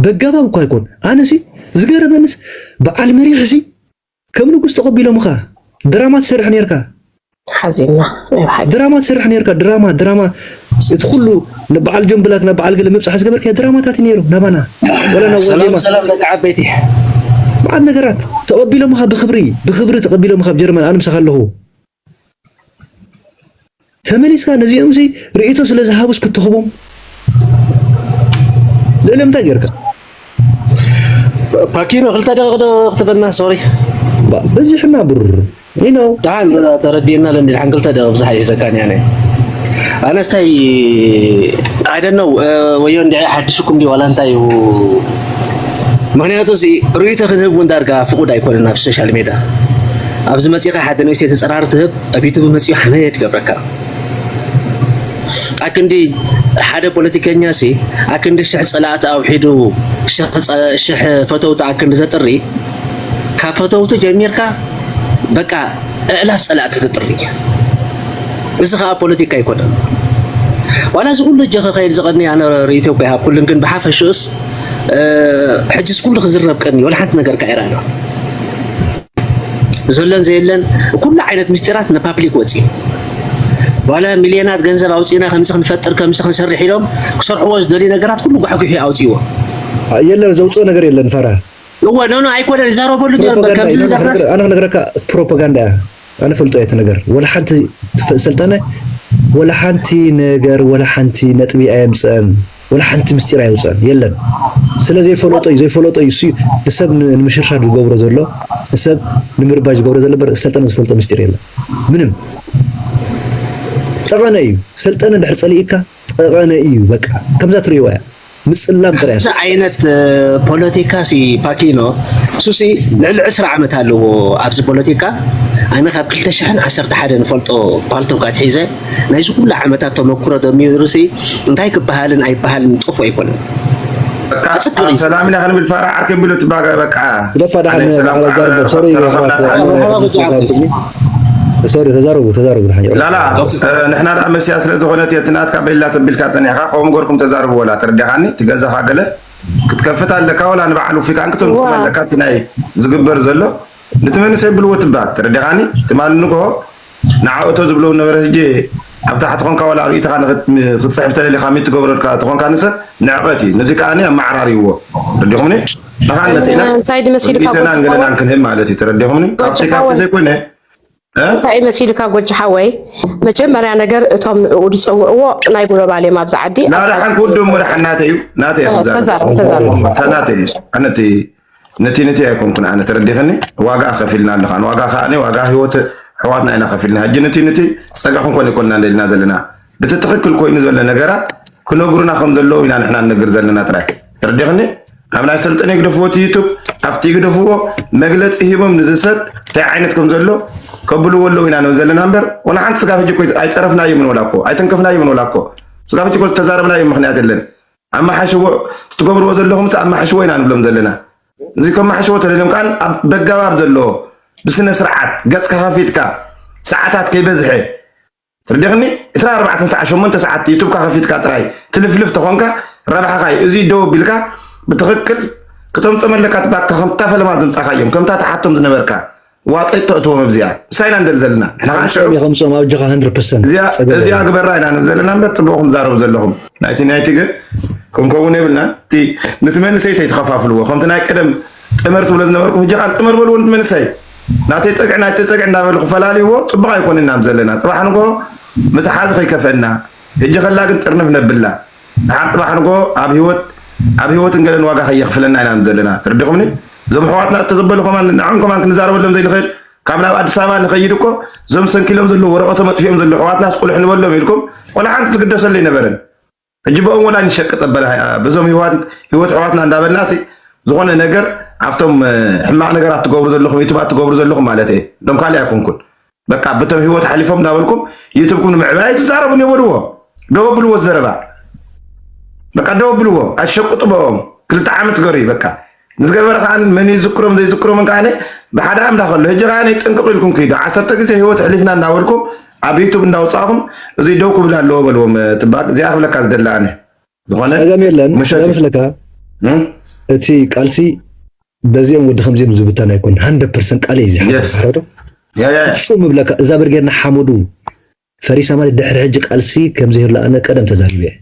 በጋባብ እኳ ኣይኮን ኣነሲ ዝገረመንስ በዓል መሪሕሲ ከም ንጉስ ተቀቢሎምኻ ድራማ ትሰርሕ ኔርካ። ሓዚንና ናይ ብሓቂ። ድራማ ትሰርሕ ኔርካ ድራማ ድራማ እቲ ኩሉ ናብ በዓል ጆን ብላክ ናብ በዓል ገለ ምብጻሕ ዝገበርካዮ ድራማታት ኔሩ ናባና ወላ ናብ ዋዜማ ሰላም ሰላም ደቂ ዓበይቲ። መዓት ነገራት ተቐቢሎምኻ ብኽብሪ ብኽብሪ ተቐቢሎምኻ ኣብ ጀርመን ኣነ ምሳኻ ኣለኹ። ተመሊስካ ነዚኦምሲ ርእይቶ ስለ ዝሃቡስ ክትህቦም ልዕሊ እንታይ ጌርካ ፓኪኖ ክልተ ደቂቕ ዶ ክትበና ሶሪ በዚሕና ብር ኢኖ ደሓን ተረዲእና ለኒ ደሓን ክልተ ደቂቕ ብዙሕ ኣይሕዘካን ያነ ኣነስታይ ኣይደነው ወዮ እንዲ ሓድሽኩም ዲ ዋላ እንታይ እዩ ምክንያቱ ርእይቶ ክንህብ እውን ዳርጋ ፍቁድ ኣይኮነን ኣብ ሶሻል ሜዳ ኣብዚ መጺኻ ሓንቲ ንእሽተይ ተጸራሪ ትህብ ኣብ ዩቱብ መጺኡ ሓመድ ይገብረካ ኣክንዲ ሓደ ፖለቲከኛ ሲ ኣክንዲ ሽሕ ጸላእቲ ኣውሒዱ ሽሕ ፈተውቲ ኣክንዲ ዘጥሪ ካብ ፈተውቲ ጀሚርካ በቃ እዕላፍ ጸላእቲ ተጥሪ እዚ ከዓ ፖለቲካ ኣይኮነን ዋላ እዚ ኩሉ እጀ ከኸይድ ዝቐኒ ኣነ ርእይቶ እኮ ይሃብ ኩሉን ግን ብሓፈሽኡስ ሕጅስ ኩሉ ክዝረብ ቀኒ ወላ ሓንቲ ነገር ከዒራ ኣሎ ዘሎን ዘየለን ኩሉ ዓይነት ምስጢራት ናብ ፓብሊክ ወፂኡ ዋላ ሚልዮናት ገንዘብ ኣውፂእና ከምዚ ክንፈጥር ከምዚ ክንሰርሕ ኢሎም ክሰርሕዎ ዝደልዩ ነገራት ኩሉ ጓሕጒሑ ኣውፂዎ የለን ዘውፅኦ ነገር የለን ፈራ እወ ኖኖ ኣይኮነን ይዛረበሉ ኣነ ክነግረካ ፕሮፓጋንዳ እያ ኣነ ፈልጦ እየ እቲ ነገር ወላ ሓንቲ ሰልጠነ ወላ ሓንቲ ነገር ወላ ሓንቲ ነጥቢ ኣየምፅአን ወላ ሓንቲ ምስጢር ኣይውፅእን የለን ስለ ዘይፈለጦ እዩ ዘይፈለጦ እዩ እሱ ንሰብ ንምሽርሻር ዝገብሮ ዘሎ ንሰብ ንምርባሽ ዝገብሮ ዘሎ በር ሰልጠነ ዝፈልጦ ምስጢር የለን ምንም ጠቐነ እዩ ሰልጠነ ድሕር ፀሊእካ ጠቐነ እዩ በቃ ከምዛ ትሪእዋ እያ ምፅላም ጥራይ እዚ ዓይነት ፖለቲካ ሲ ፓኪኖ እሱሲ ልዕሊ ዕስራ ዓመት ኣለዎ ኣብዚ ፖለቲካ ኣነ ካብ ክልተ ሽሕን ዓሰርተ ሓደ ንፈልጦ ፓልቶክ ኣትሒዘ ናይዚ ኩሉ ዓመታት ተመኩሮ ደሚሩሲ እንታይ ክበሃልን ኣይበሃልን ጥፉእ ኣይኮነን። ሰላም ኢና ክንብል ፋራ ዓርከይ ብሎ ትባጋ በቃ ደፋ ዳሓን በዓል ኣዛርቦ ሶሪ ሶሪ ተዛረቡ ተዛረቡ ላላ ንሕና ደኣ መስያ ስለ ዝኾነት እቲ ናትካ በላ ተቢልካ ፀኒሕካ ከምኡ ገርኩም ተዛርቡ ወላ ተረዲኻኒ እቲ ገዛኻ ገለ ክትከፍት ኣለካ ወላ ንበዓል ውፊታን ክትምፅም ኣለካ እቲ ናይ ዝግበር ዘሎ ነቲ መንእሰይ ብልዎ ትባል ተረዲኻኒ ትማሊ ንግሆ ንዓኡ ተዝብለዉ ነበረ ህጂ ኣብ ታሕቲ ኮንካ ዋላ ርእይቶኻ ንክትጽሕፍ ተደሊኻ ሚት ትገብረልካ ተኾንካ ንሰ ንዕቀት እዩ ነዚ ከኣ ኣመዓራርይዎ ተረዲኹምኒ ንኻን መጺእና ርእይቶና ንገለናን ክንህብ ማለት እዩ ተረዲኹምኒ ካብዚ ካብቲ ዘይኮነ እንታይ እዩ መሲልካ ጎጂ ሓወይ መጀመርያ ነገር እቶም ንዕኡ ዝፀውዕዎ ናይ ጉሎባል እዮም ኣብዚ ዓዲ ናደሓን ክውድም ወደሓን ናተይ እዩ ናተይ ክዛረብ ናተይ እዩ ኣነቲ ነቲ ነቲ ኣይኮንኩን ኣነ ተረዲኸኒ ዋጋ ከፊልና ኣለኻ ንዋጋ ከዓኒ ዋጋ ህይወት ሕዋትና ኢና ከፊልና ሕጂ ነቲ ነቲ ፀጋ ክንኮን ይኮንና ንደልና ዘለና እቲ ትኽክል ኮይኑ ዘሎ ነገራት ክነግሩና ከም ዘለዎ ኢና ንሕና ንነግር ዘለና ጥራይ ተረዲኸኒ ኣብ ናይ ሰልጠነ ይግደፍዎ እቲ ዩቱብ ኣብቲ ይግደፍዎ መግለፂ ሂቦም ንዚ ሰብ እንታይ ዓይነት ከም ዘሎ ከብልዎ ኣለዉ ኢና ንብል ዘለና እምበር ወላ ሓንቲ ስጋብ ሕጂ ኣይፀረፍናዮምን ወላ እኮ ኣይተንከፍናዮምን ወላ እኮ ስጋብ ሕጂ እኮ ዝተዛረብናዮ ምክንያት የለን ኣመሓሽዎ ትገብርዎ ዘለኹም ስ ኣመሓሽዎ ኢና ንብሎም ዘለና እዚ ከመሓሽዎ ተደልዮም ከዓ ኣብ በጋባብ ዘለዎ ብስነ ስርዓት ገፅ ከኸፊትካ ሰዓታት ከይበዝሐ ትርዲኽኒ 24 ሰዓት 8 ሰዓት ዩቱብካ ከፊትካ ጥራይ ትልፍልፍ ተኾንካ ረብሓኻ እዩ እዚ ደው ቢልካ ብትኽክል ክተምፅኦም ኣለካ ባካ ከምታ ፈለማ ዘምፃኻዮም ከምታ ተሓቶም ዝነበርካ ዋጠጥ ተእትዎም ኣብዚኣ ንሳይ ኢና ንደሊ ዘለና ከምፅኦም ኣብ ጀኻ ሃንድረድ ፐርሰንት እዚኣ ግበራ ኢና ንብል ዘለና እምበር ፅቡቕኩም ዛረቡ ዘለኹም ናይቲ ናይቲ ግን ክንከውን የብልና እቲ ንቲ መንእሰይ ሰይ ተኸፋፍልዎ ከምቲ ናይ ቀደም ጥመር ትብሎ ዝነበርኩም እጃ ቃል ጥመር በልዎ ንቲ መንእሰይ ናተይ ፀግዒ ናይቲ ፀግዒ እንዳበሉ ክፈላልይዎ ፅቡቕ ኣይኮንን ኢና ዘለና ፅባሕ ንጎ ምትሓዝ ከይከፈእና እጀ ከላ ግን ጥርንፍ ነብላ ድሓር ጽባሕ ንግሆ ኣብ ሂወት ኣብ ሂወትን ገለን ዋጋ ከየኽፍለና ኢና ዘለና ተረዲኹምኒ እዞም ኣሕዋትና እተዘበሉ ከማን ንዖም ከማን ክንዛረበሎም ዘይንኽእል ካብ ናብ ኣዲስ ኣበባ ንኸይድ እኮ እዞም ሰንኪሎም ዘለዉ ወረቐቶም ኣጥፊኦም ዘለዉ ኣሕዋትናስ ቁልሕ ንበሎም ኢልኩም ወላ ሓንቲ ዝግደሰሉ ኣይነበረን ሕጂ በኦም ወላ ንሸቅጥ ኣበለ በዞም ህይወት ህይወት ሕዋትና እንዳበልና ሲ ዝኾነ ነገር ኣብቶም ሕማቕ ነገራት ትገብሩ ዘለኹም ዩቱባት ትገብሩ ዘለኹም ማለት እየ እቶም ካልእ ኣይኮንኩን በቃ ብተብ ህይወት ሓሊፎም እንዳበልኩም ዩቱብኩም ንምዕባይ ኣይትዛረቡን እዮ በልዎ ደው ኣብልዎ ዘረባ በቃ ደው ኣብልዎ ኣሸቁጡ በኦም ክልተ ዓመት ገሩ በቃ ንዝገበረ ከዓ መን ይዝክሮም ዘይዝክሮምን ከዓ ብሓደ ኣምላኽ ኣሎ ህጂ ከዓ ጥንቅቅ ኢልኩም ክይዱ ዓሰርተ ግዜ ህይወት ሕሊፍና እንዳበልኩም ኣብ ዩቱብ እንዳውፃእኹም እዙይ ደው ክብል ኣለዎ በልዎም ትባቅ እዚኣ ክብለካ ዝደሊ ኣነ ዝኾነ ጸገም የለን መስለካ እቲ ቃልሲ በዚኦም ወዲ ከምዚኦም ዝብተን ኣይኮን ሃንድረድ ፐርሰንት ቃል እዩ ዝሓዶ ፍፁም እብለካ እዛ ብርጌድና ሓመዱ ፈሪሳ ማለት ድሕሪ ሕጂ ቃልሲ ከምዘይህሉ ኣነ ቀደም ተዛሪበ እየ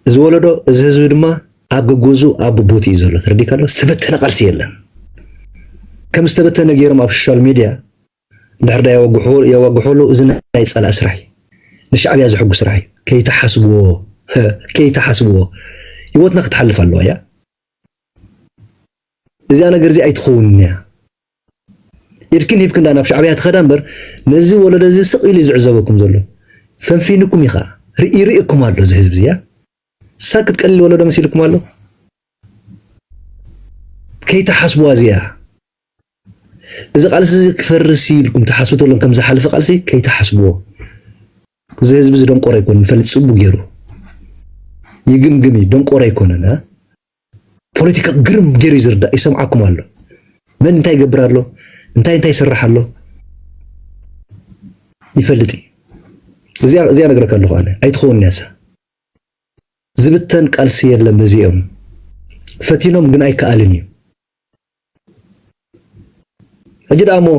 እዚ ወለዶ እዚ ህዝቢ ድማ ኣብ ግግዙ ኣብ ብቦት እዩ ዘሎ ተረዲካ ኣሎ ዝተበተነ ቃልሲ የለን ከም ዝተበተነ ገይሮም ኣብ ሶሻል ሚድያ እንድሕር ድኣ የወግሕሉ እዚ ናይ ጸላኢ ስራሕ እዩ ንሻዕብያ ዝሕጉ ስራሕ እዩ ከይትሓስብዎ ከይትሓስብዎ ሂወትና ክትሓልፍ ኣለዋ እያ እዚኣ ነገር እዚ ኣይትኸውንን እያ ኢድክን ሂብክን ዳ ናብ ሻዕብያ ትኸዳ እምበር ነዚ ወለዶ እዚ ስቕ ኢሉ ዝዕዘበኩም ዘሎ ፈንፊንኩም እዩ ኸኣ ይርእየኩም ኣሎ እዚ ህዝቢ እያ ሳክት ቀሊል ወለዶ መሲልኩም ኣሎ ከይትሓስብዋ እዚኣ እዚ ቃልሲ እዚ ክፈርስ እዩ ኢልኩም ትሓስቡ ተሎን ከም ዝሓለፈ ቃልሲ ከይትሓስብዎ። እዚ ህዝቢ እዚ ደንቆሮ ኣይኮነን ይፈልጥ ጽቡ ገይሩ ይግምግም እዩ ደንቆሮ ኣይኮነን። ፖለቲካ ግርም ገይሩ እዩ ዝርዳእ ይሰምዓኩም ኣሎ። መን እንታይ ይገብር ኣሎ እንታይ እንታይ ይስራሕ ኣሎ ይፈልጥ እዩ። እዚኣ እዚኣ ነግረካ ኣለኹ ኣነ ኣይትኸውን ያሳ ዝብተን ቃልሲ የለን በዚኦም ፈቲኖም ግን ኣይከኣልን እዩ ሕጂ ደኣ እሞ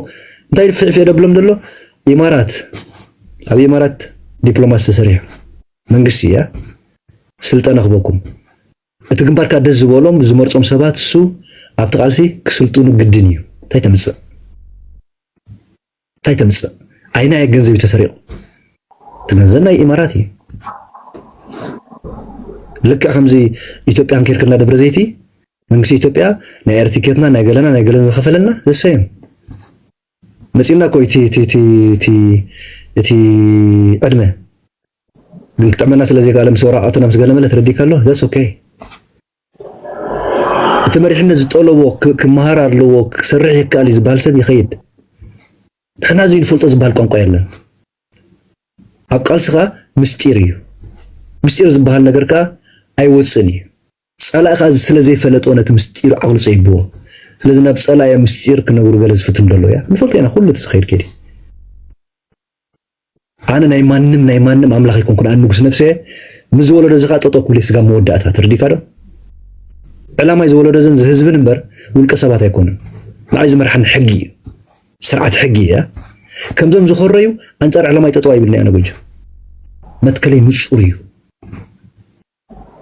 እንታይ ፊዕፊዕ ደብሎም ዘሎ ኢማራት ኣብ ኢማራት ዲፕሎማሲ ተሰሪሑ መንግስቲ እያ ስልጠና ክበኩም እቲ ግንባርካ ደስ ዝበሎም ዝመርጾም ሰባት እሱ ኣብቲ ቃልሲ ክስልጥኑ ግድን እዩ እንታይ ተምጽእ እንታይ ተምፅእ ኣይናየ ገንዘብ ተሰሪቑ እቲ ገንዘብ ናይ ኢማራት እዩ ልክዕ ከምዚ ኢትዮጵያ እንኬርክና ደብረ ዘይቲ መንግስቲ ኢትዮጵያ ናይ ኤርቲኬትና ናይ ገለና ናይ ገለን ዝኸፈለና ዘሰዮም መፂና እኮ እቲ ዕድመ ግን ክጥዕመና ስለ ዘይከኣለ ምስ ወራቃትና ምስ ገለመለ ተረዲካ ኣሎ ዘስ ኦኬ እቲ መሪሕነት ዝጠለቦ ክመሃር ኣለዎ ክሰርሕ ይከኣል እዩ ዝበሃል ሰብ ይኸይድ። ንሕና እዚ ንፈልጦ ዝበሃል ቋንቋ የለን። ኣብ ቃልስኻ ምስጢር እዩ። ምስጢር ዝበሃል ነገር ከዓ ኣይወፅእን እዩ። ጸላኢ ከዓ ስለ ዘይፈለጦ ነቲ ምስጢር ዓቕሉ ፀይብዎ። ስለዚ ናብ ጸላኢ ምስጢር ክነብሩ ገለ ዝፍትኑ ደለዉ እያ ንፈልጦ ኢና ኩሉ እቲ ዝኸይድ ከይድ እዩ። ኣነ ናይ ማንም ናይ ማንም ኣምላኽ ኣይኮንኩን ኣነ ንጉስ ነብሰ እየ ምስ ዝወለዶ እዚ ከዓ ጠጠው ክብል ስጋ መወዳእታ ተረዲእካ ዶ ዕላማይ ዝወለዶ ዘን ዝህዝብን እምበር ውልቀ ሰባት ኣይኮኑን ንዓይ ዝመርሓኒ ሕጊ እዩ ስርዓት ሕጊ እያ ከምዞም ዝኮረዩ ኣንፃር ዕላማይ ጠጠው ኣይብልኒ ኣነ ጎጆ መትከለይ ንፁር እዩ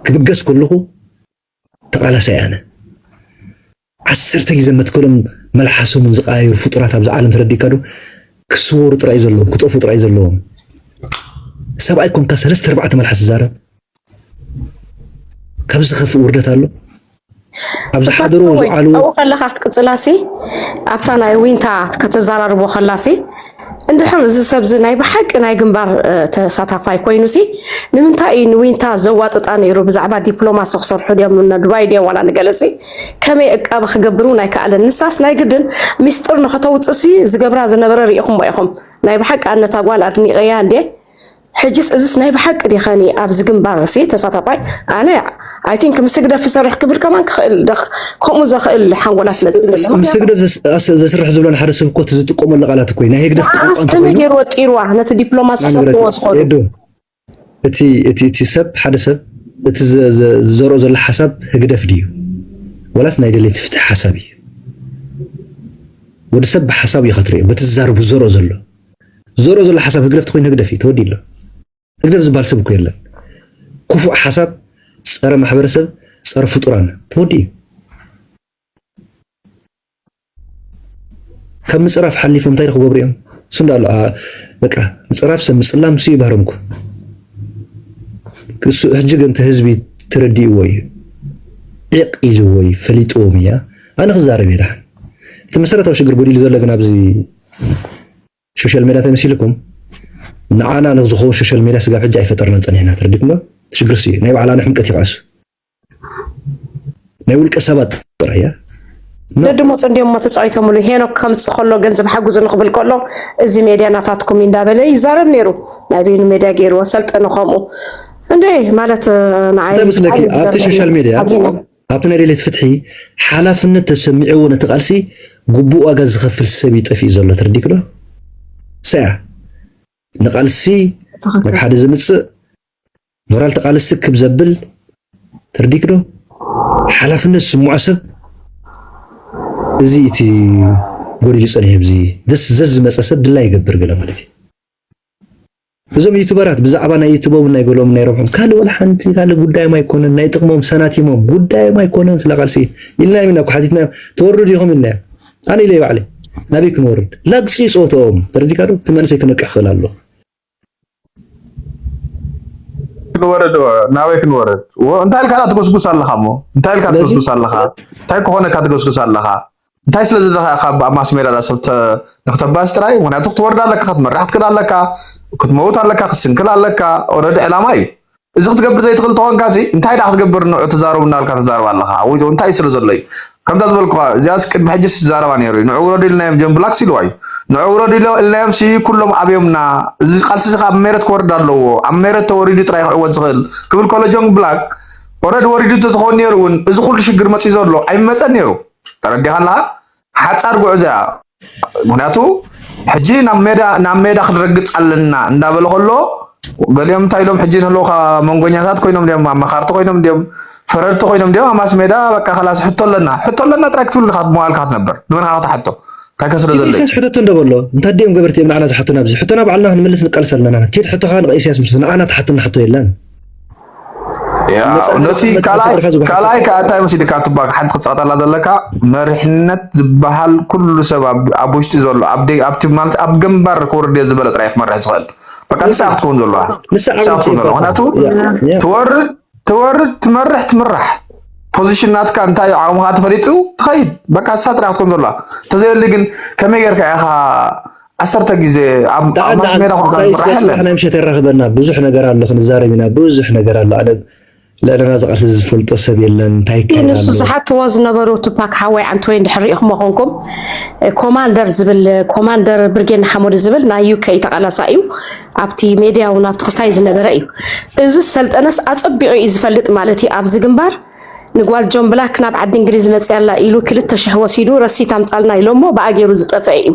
ክብገስ ከለኹ ተቃላሳይ ኣነ ዓሰርተ ግዜ መትከሎም መልሓሶምን ዝቀያየሩ ፍጡራት ኣብዛ ዓለም ተረዲእካ ዶ ክስወሩ ጥራይ ዘለዎም ክጠፉ ጥራይ ዘለዎም ሰብኣይ ኮንካ ሰለስተ ኣርባዕተ መልሓስ ዝዛረብ ካብ ዝኸፍእ ውርደት ኣሎ ኣብ ዝሓደሮ ዝዓልዎ ከለካ ክትቅፅላሲ ኣብታ ናይ ዊንታ ከተዘራርቦ ከላሲ እንድሕር እዚ ሰብዚ ናይ ብሓቂ ናይ ግንባር ተሳታፋይ ኮይኑሲ ንምንታይ እዩ ንዊንታ ዘዋጥጣ ነይሩ? ብዛዕባ ዲፕሎማሲ ክሰርሑ ድዮም ንዱባይ ድዮም ዋላ ንገለሲ ከመይ ዕቃበ ክገብር እውን ኣይከኣለን። ንሳስ ናይ ግድን ሚስጥር ንኸተውፅእሲ ዝገብራ ዝነበረ ርኢኹሞ ኢኹም። ናይ ብሓቂ ኣነታ ጓል ኣድኒቐያ እንድየ ሕጅስ እዝስ ናይ ብሓቂ ዲከኒ ኣብዚ ግንባርሲ ተሳታፋይ ኣነ ኣይ ቲንክ ምስ ህግደፍ ዝሰርሕ ክብል ከማን ክኽእል ደኽ ከምኡ ዘኽእል ሓንጎላ ስለ ዝብለኒ ምስ ህግደፍ ዘስርሕ ዝብሎ ንሓደ ሰብ እኮ ዝጥቀመሉ ቃላት እኮ ናይ ህግደፍ ቋንቋ ከመይ ገይሩ ወጢርዋ ነቲ ዲፕሎማሲ ሰፍዎ ዝኾኑ እቲ እቲ እቲ ሰብ ሓደ ሰብ እቲ ዝዘርኦ ዘሎ ሓሳብ ህግደፍ ድዩ ወላስ ናይ ደለይቲ ፍትሒ ሓሳብ እዩ ወዲ ሰብ ብሓሳብ እዩ ከትሪኦ በቲ ዝዛረቡ ዝዘርኦ ዘሎ ዘርኦ ዘሎ ሓሳብ ህግደፍ ተኮይኑ ህግደፍ እዩ ተወዲኡ ኣሎ ህግደፍ ዝበሃል ሰብ እኮ የለን ክፉእ ሓሳብ ፀረ ማሕበረሰብ ፀረ ፍጡራን ተወዲኡ እዩ ካብ ምፅራፍ ሓሊፎም እንታይ ክገብሩ እዮም ስንዶ ኣሎ በቃ ምፅራፍ ሰብ ምፅላም ሱ ይባህሮም እኮ እሱ ሕጂ ግን እቲ ህዝቢ ተረዲእዎ እዩ ዒቕ ኢልዎ እዩ ፈሊጥዎም እያ ኣነ ክዛረብ እየ ደሓን እቲ መሰረታዊ ሽግር ጎዲሉ ዘሎ ግን ኣብዚ ሾሻል ሜድያ ተመሲልኩም ንዓና ንዝኸውን ሾሻል ሜድያ ስጋብ ሕጂ ኣይፈጠርናን ጸኒሕና ተረዲኩም ዶ ትሽግር ስዩ ናይ ባዕላ ንሕምቀት ይቐስ ናይ ውልቀ ሰባት ጥራሕ እያ ደድሞ ጽንዲዮሞ ተጻዊቶምሉ ሄኖክ ከምጽ ከሎ ገንዘብ ሓጉዝኒ ክብል ከሎ እዚ ሜድያ ናታትኩም እንዳበለ ይዛረብ ነይሩ ናይ በይኑ ሜድያ ገይርዎ ሰልጠነ ከምኡ እንዴ ማለት ንዓይ ምስለኪ ኣብቲ ሶሻል ሜድያ ኣብቲ ናይ ደልየት ፍትሒ ሓላፍነት ተሰሚዕዎ ነቲ ቃልሲ ግቡእ ዋጋ ዝኸፍል ሰብ እዩ ጠፊኡ ዘሎ ተረዲክዶ ሰያ ንቃልሲ ናብ ሓደ ዘምፅእ ሞራል ተቃልሲ ክብ ዘብል ተረዲክዶ ሓላፍነት ዝስምዖ ሰብ እዚ እቲ ጎዲሉ ፀኒሑ ብዚ ዘስ ዝመፀ ሰብ ድላ ይገብር ገለ ማለት እዩ እዞም ዩቱበራት ብዛዕባ ናይ ዩቱቦምን ናይ ገሎምን ናይ ረብሖም ካልእ ወላ ሓንቲ ካልእ ጉዳዮም ኣይኮነን ናይ ጥቅሞም ሰናቲሞም ጉዳዮም ኣይኮነን ስለ ቃልሲ ኢልናዮም ኢና እኮ ሓቲትናዮም ትወርዱ ዲኹም ኢልናዮም ኣነ ኢለይ ባዕለይ ናበይ ክንወርድ ላግፂ ፆቶም ተረዲካ ዶ እቲ መንእሰይ ክነቅሕ ክእል ኣሎ ክንወርድ ናበይ ክንወርድ እንታይ ኢልካ ትጎስጉስ ኣለኻ እሞ እንታይ ኢልካ ትጎስጉስ ኣለኻ እንታይ ክኾነካ ትጎስጉስ ኣለኻ እንታይ ስለ ዘለካ ኢካ ኣብ ማስሜዳ ሰብ ንክተባስ ጥራይ ምክንያቱ ክትወርድ ኣለካ ክትመርሕ ክትክእል ኣለካ ክትመውት ኣለካ ክትስንክል ኣለካ ኦረዲ ዕላማ እዩ እዚ ክትገብር ዘይትክእል ተኮንካ ሲ እንታይ ደኣ ክትገብር ንዑ ተዛረቡ እናበልካ ተዛረብ ኣለካ ወይ እንታይ ስለ ዘሎ እዩ ከምታ ዝበልኩካ እዚኣስ ቅድሚ ሕጂ ዝዛረባ ነይሩ እዩ ንዑ ውረዱ ኢልናዮም ጆን ብላክስ ኢልዋ እዩ ንዑ ውረዱ ኢልናዮም ሲ ኩሎም ኣብዮምና እዚ ቃልሲ እዚ ኣብ ሜረት ክወርድ ኣለዎ ኣብ ሜረት ተወሪዱ ጥራይ ክዕወት ዝክእል ክብል ከሎ ጆን ብላክ ኦረዲ ወሪዱ እንተዝኸውን ነይሩ እውን እዚ ኩሉ ሽግር መፅዩ ዘሎ ኣይመፀን ነይሩ ተረዲኻ ኣለኻ ሓፃር ጉዕዞ እያ ምክንያቱ ሕጂ ናብ ሜዳ ናብ ሜዳ ክንረግፅ ኣለና እንዳበለ ከሎ ገሊኦም እንታይ ኢሎም ሕጂ ንህልውካ መንጎኛታት ኮይኖም ድዮም ኣማኻርቲ ኮይኖም ድዮም ፈረድቲ ኮይኖም ድዮም ኣብ ማስ ሜዳ በቃ ከላስ ሕቶ ኣለና ሕቶ ኣለና ጥራይ ክትብል ኢኻ መዋልካ ክትነብር ንመንካ ክትሓቶ እንታይ ከስረ ዘሎ ኢሳያስ ሕተቶ እንደበሎ እንታይ ድዮም ገበርቲ እዮም ንዓና ዝሓቱና ኣብዚ ሕቶና ባዕልና ክንምልስ ንቃልስ ኣለና ኬድ ሕቶኻ ንኢሳያስ ምስ ንዓና ትሓትና ሕቶ የለን ነቲ ካልኣይ ከዓ እንታይ መሲልካ ትባክ ሓንቲ ክትፀቕጠላ ዘለካ መሪሕነት ዝበሃል ኩሉ ሰብ ኣብ ውሽጢ ዘሎ ኣብቲ ማለት ኣብ ግንባር ክወርድ እየ ዝበለ ጥራይ ክመርሕ ዝኽእል በቃ ንሳ ክትከውን ዘለዋ ንሳ ክትከውን ዘለዋ ምክንያቱ ትወርድ ትወርድ ትመርሕ ትምራሕ ፖዚሽን ናትካ እንታይ እዩ ዓቕምኻ ተፈሊጡ ትኸይድ በቃ ንሳ ጥራሕ ክትከውን ዘለዋ እንተዘየሊ ግን ከመይ ጌርካ ኢኻ ዓሰርተ ግዜ ኣብ ማስ ሜዳ ጽባሕ ናይ ምሸት የራኽበና ብዙሕ ነገር ኣሎ ክንዛረብ ኢና ብዙሕ ነገር ኣሎ ኣነ ልዕልና ዝቃልሲ ዝፈልጦ ሰብ የለን እንታይ ይካየድ ንሱ ዝሓትዎ ዝነበሩ ቱፓክ ሓወይ ዓንተወይ እንድሕር ሪኢኹሞ ኮንኩም ኮማንደር ዝብል ኮማንደር ብርጌድ ሓሞድ ዝብል ናይ ዩከ ተቃላሳ እዩ ኣብቲ ሜድያ እውን ኣብቲ ክስታይ ዝነበረ እዩ እዚ ሰልጠነስ ኣፀቢቑ እዩ ዝፈልጥ ማለት እዩ ኣብዚ ግንባር ንጓል ጆን ብላክ ናብ ዓዲ እንግሊዝ መፅያላ ኢሉ ክልተ ሽሕ ወሲዱ ረሲት ኣምፃልና ኢሎሞ ብኣ ገይሩ ዝጠፍአ እዩ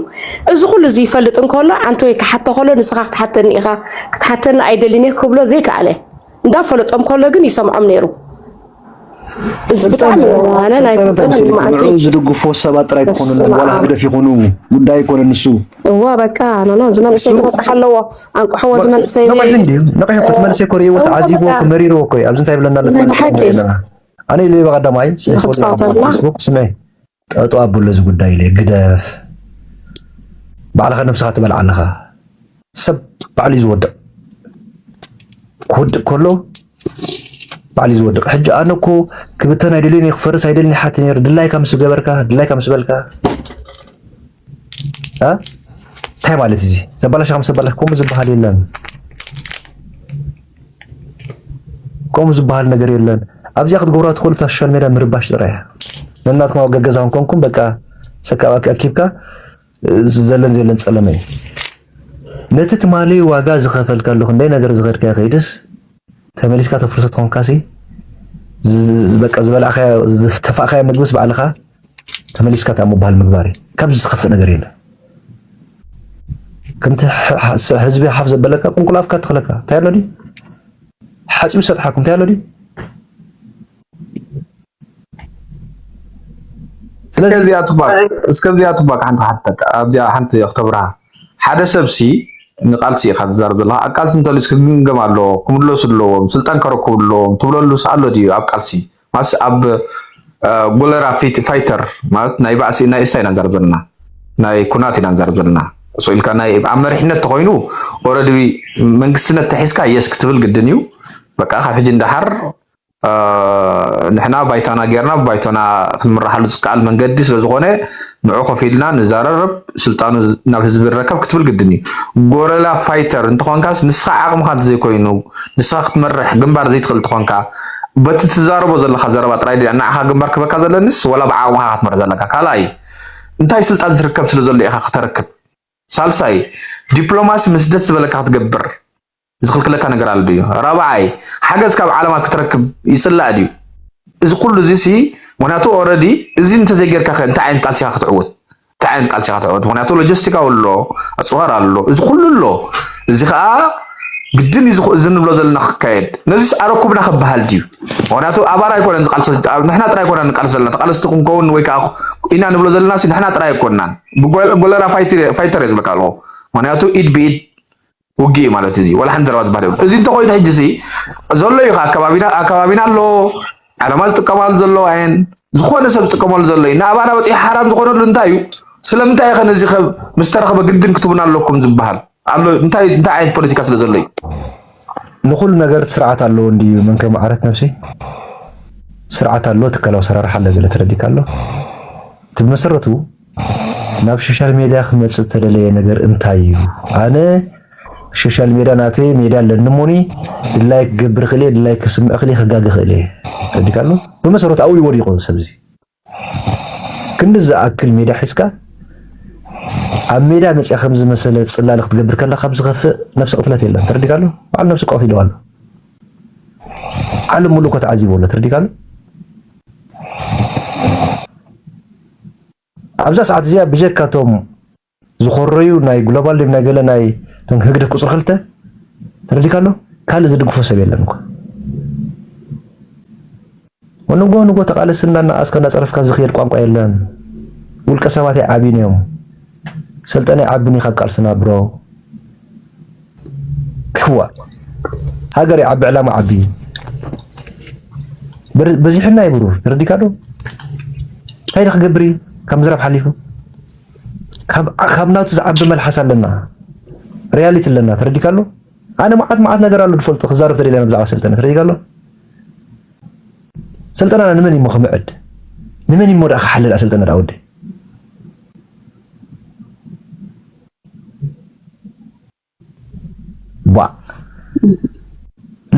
እዚ ኩሉ እዚ ይፈልጥ እንከሎ ዓንተወይ ክሓቶ ከሎ ንስኻ ክትሓተኒ ኢኻ ክትሓተኒ ኣይደልን እየ ክብሎ ዘይከኣለ እንዳፈለጦም ከሎ ግን ይሰምዖም ነይሩ እዚ ብጣዕሚ ዋነ ናይ ንዑ ዝድግፎ ሰባት ጥራይ ክኾኑ ዋላ ህግደፍ ይኹኑ ጉዳይ ኣይኮነ ንሱ እዋ በቃ ኖኖ ዝመንእሰይ ክመፅእ ኣለዎ ኣንቅሕዎ እዚ መንእሰይ ነቒሑ እንድዩ ነቒሑ እኮ እቲ መንእሰይ እኮ ርእይዎ ተዓዚቡ እኮ መሪርዎ እኮ እዩ ኣብዚ እንታይ ብለና ኣሎ ኣለና ኣነ ኢለ በቐዳማይ ፌስቡክ ስመ ጠጠው ኣብሎ እዚ ጉዳይ ኢለ ግደፍ ባዕልኻ ነብስኻ ትበልዓ ኣለኻ ሰብ ባዕሉ እዩ ዝወድቕ ክወድቕ ከሎ ባዕሉ እዩ ዝወድቕ ሕጂ ኣነ እኮ ክብተን ኣይደልዮን ክፈርስ ኣይደልን ይሓት ነይሩ ድላይካ ምስ ገበርካ ድላይካ ምስ በልካ እንታይ ማለት እዚ ዘባላሽ ከም ዘባላሽ ከምኡ ዝበሃል የለን። ከምኡ ዝበሃል ነገር የለን። ኣብዚኣ ክትገብራ ትኽእሉ ብታ ሶሻል ሜድያ ምርባሽ ጥራይ እያ። ነናትኩም ኣብ ገገዛ ኮንኩም በቃ ሰካብ ኣኪብካ ዘለን ዘለን ጸለመ እዩ። ነቲ ትማሊ ዋጋ ዝኸፈልካሉ ክንደይ ነገር ዝኸድካ ከይድስ ተመሊስካ ተፍርሶ ትኾንካሲ በቃ ዝበላዕካ ዝተፋእካዮ ምግብስ ባዕልኻ ተመሊስካ ምባል ምግባር እዩ ካብዚ ዝከፍእ ነገር የለን። ከምቲ ህዝቢ ሓፍ ዘበለካ ቁልቁል ኣፍካ ትኽለካ እንታይ ኣሎ ድዩ ሓፂቡ ሰጥሓኩም እንታይ ኣሎ ድዩ ስለዚ እስከዚኣ ትባክ ሓንቲ ሓተካ ኣብዚኣ ሓንቲ ክተብርሃ ሓደ ሰብሲ ንቃልሲ ኢካ ትዛረብ ዘለካ ኣብ ቃልሲ እንተልዩስ ክግምገም ኣለዎ ክምለሱ ኣለዎም ስልጣን ከረክቡ ኣለዎም ትብለሉስ ኣሎ ድዩ ኣብ ቃልሲ ማለትስ ኣብ ጎለራ ፋይተር ማለት ናይ ባእሲ ናይ እስታ ኢና ንዛረብ ዘለና ናይ ኩናት ኢና ንዛረብ ዘለና ሶ ኢልካ ናይ ኣብ መሪሕነት ተኮይኑ ኦረዲ መንግስትነት ተሒዝካ የስ ክትብል ግድን እዩ በቃ ካብ ሕጂ እንዳሓር ንሕና ባይታና ጌርና ብባይቶና ክንምራሓሉ ዝከኣል መንገዲ ስለዝኾነ ንዑ ኮፍ ኢልና ንዛረረብ ስልጣኑ ናብ ህዝቢ ይረከብ ክትብል ግድን እዩ። ጎረላ ፋይተር እንተኾንካስ ንስኻ ዓቕምኻ እንተዘይኮይኑ ንስኻ ክትመርሕ ግንባር ዘይትኽእል እንተኾንካ በቲ ትዛረቦ ዘለኻ ዘረባ ጥራይ ድያ ንዓኻ ግንባር ክህበካ ዘለኒስ ወላ ብዓቕምኻ ኢኻ ክትመርሕ ዘለካ ካልኣይ እንታይ ስልጣን ዝርከብ ስለዘሎ ኢኻ ክተርክብ ሳልሳይ ዲፕሎማሲ ምስ ደስ ዝበለካ ክትገብር ዝኽልክለካ ነገር ኣሎ ድዩ? ራብዓይ ሓገዝ ካብ ዓለማት ክትረክብ ይጽላእ ድዩ? እዚ ኩሉ እዚ ሲ ምክንያቱ ኦረዲ እዚ እንተዘይጌርካ ከ እንታይ ዓይነት ቃልሲ ኢኻ ክትዕወት እንታይ ዓይነት ቃልሲ ኢኻ ክትዕወት? ምክንያቱ ሎጂስቲካዊ ኣሎ ኣጽዋር ኣሎ እዚ ኩሉ ኣሎ እዚ ከዓ ግድን እዩ እዚ ንብሎ ዘለና ክካየድ ነዚስ ኣረኩብና ክበሃል ድዩ? ምክንያቱ ኣባና ኣይኮነን ዝቃልሲ ንሕና ጥራይ ኣይኮና ንቃልሲ ዘለና ተቃለስቲ ክንከውን ወይ ከዓ ኢና ንብሎ ዘለና ሲ ንሕና ጥራይ ኣይኮናን ብጎለራ ፋይተር እየ ዝብለካ ኣለኹ ምክንያቱ ኢድ ብኢድ ውግእ እዩ ማለት እዚ ዋላ ሓንቲ ዘረባ ዝበሃል የብሉን። እዚ እንተኮይኑ ሕጂ እዚ ዘሎ እዩ ከዓ ከባቢና ኣብ ከባቢና ኣሎ ዓለማ ዝጥቀማሉ ዘለዋ እየን ዝኾነ ሰብ ዝጥቀመሉ ዘሎ እዩ ንኣባና በፂሑ ሓራም ዝኾነሉ እንታይ እዩ ስለምንታይ ከ ነዚ ከ ምስ ተረኽበ ግድን ክትቡና ኣለኩም ዝበሃል ኣሎ እንታይ እንታይ ዓይነት ፖለቲካ ስለ ዘሎ እዩ ንኩሉ ነገር ስርዓት ኣለዎ እንድዩ መንከ መዓረት ነብሲ ስርዓት ኣሎ ትካላዊ ሰራርሓ ኣሎ ገለ ተረዲካ ኣሎ እቲ ብመሰረቱ ናብ ሶሻል ሜድያ ክመጽእ ዝተደለየ ነገር እንታይ እዩ? ኣነ ሶሻል ሜድያ ናተይ ሜድያ ኣለኒ እሞኒ ድላይ ክገብር ክእል ድላይ ክስምዕ ክእል ክጋገ ክእል እየ ተረዲካሉ ብመሰረቱ ኣብኡ እዩ ወዲቁ ሰብዚ ክንዲ ዝኣክል ሜድያ ሒዝካ ኣብ ሜድያ መጽያ ከም ዝመሰለ ጽላል ክትገብር ከለካ ካብ ዝኸፍእ ነፍሲ ቅትለት የለን ተረዲካሉ በዓል ነፍሲ ቀትሉ ኣሎ ዓለም ሙሉእ እኮ ተዓዚቦ ኣሎ ተረዲካሉ ኣብዛ ሰዓት እዚኣ ብጀካ እቶም ዝኾረዩ ናይ ግሎባል ድም ናይ ገለ ናይ እቶም ህግደፍ ቁፅሪ ክልተ ተረዲካ ኣሎ ካልእ ዝድግፎ ሰብ የለን እኮ ንጎ ንጎ ተቃለስ እናናኣስካ እናፀረፍካ ዝኽየድ ቋንቋ የለን። ውልቀ ሰባት ኣይዓብዩን እዮም። ሰልጠነ ይዓብኒ ካብ ቃልስና ብሮ ክዋ ሃገር ይዓቢ ዕላማ ዓቢ በዚሕና ዩ ብሩር ተረዲካ ዶ እንታይ ዶ ክገብር ዩ ካብ ምዝራብ ሓሊፉ ካብ ናቱ ዝዓቢ መልሓስ ኣለና ሪያሊቲ ኣለና ተረዲካ ኣሎ ኣነ መዓት መዓት ነገር ኣሎ ዝፈልጦ ክዛረብ ተደልያ ብዛዕባ ሰልጠነ ተረዲካ ኣሎ ሰልጠናና ንመን እዩ ክምዕድ ንመን እዩ ሞ ክሓልል ሰልጠነ ወደይ ባእ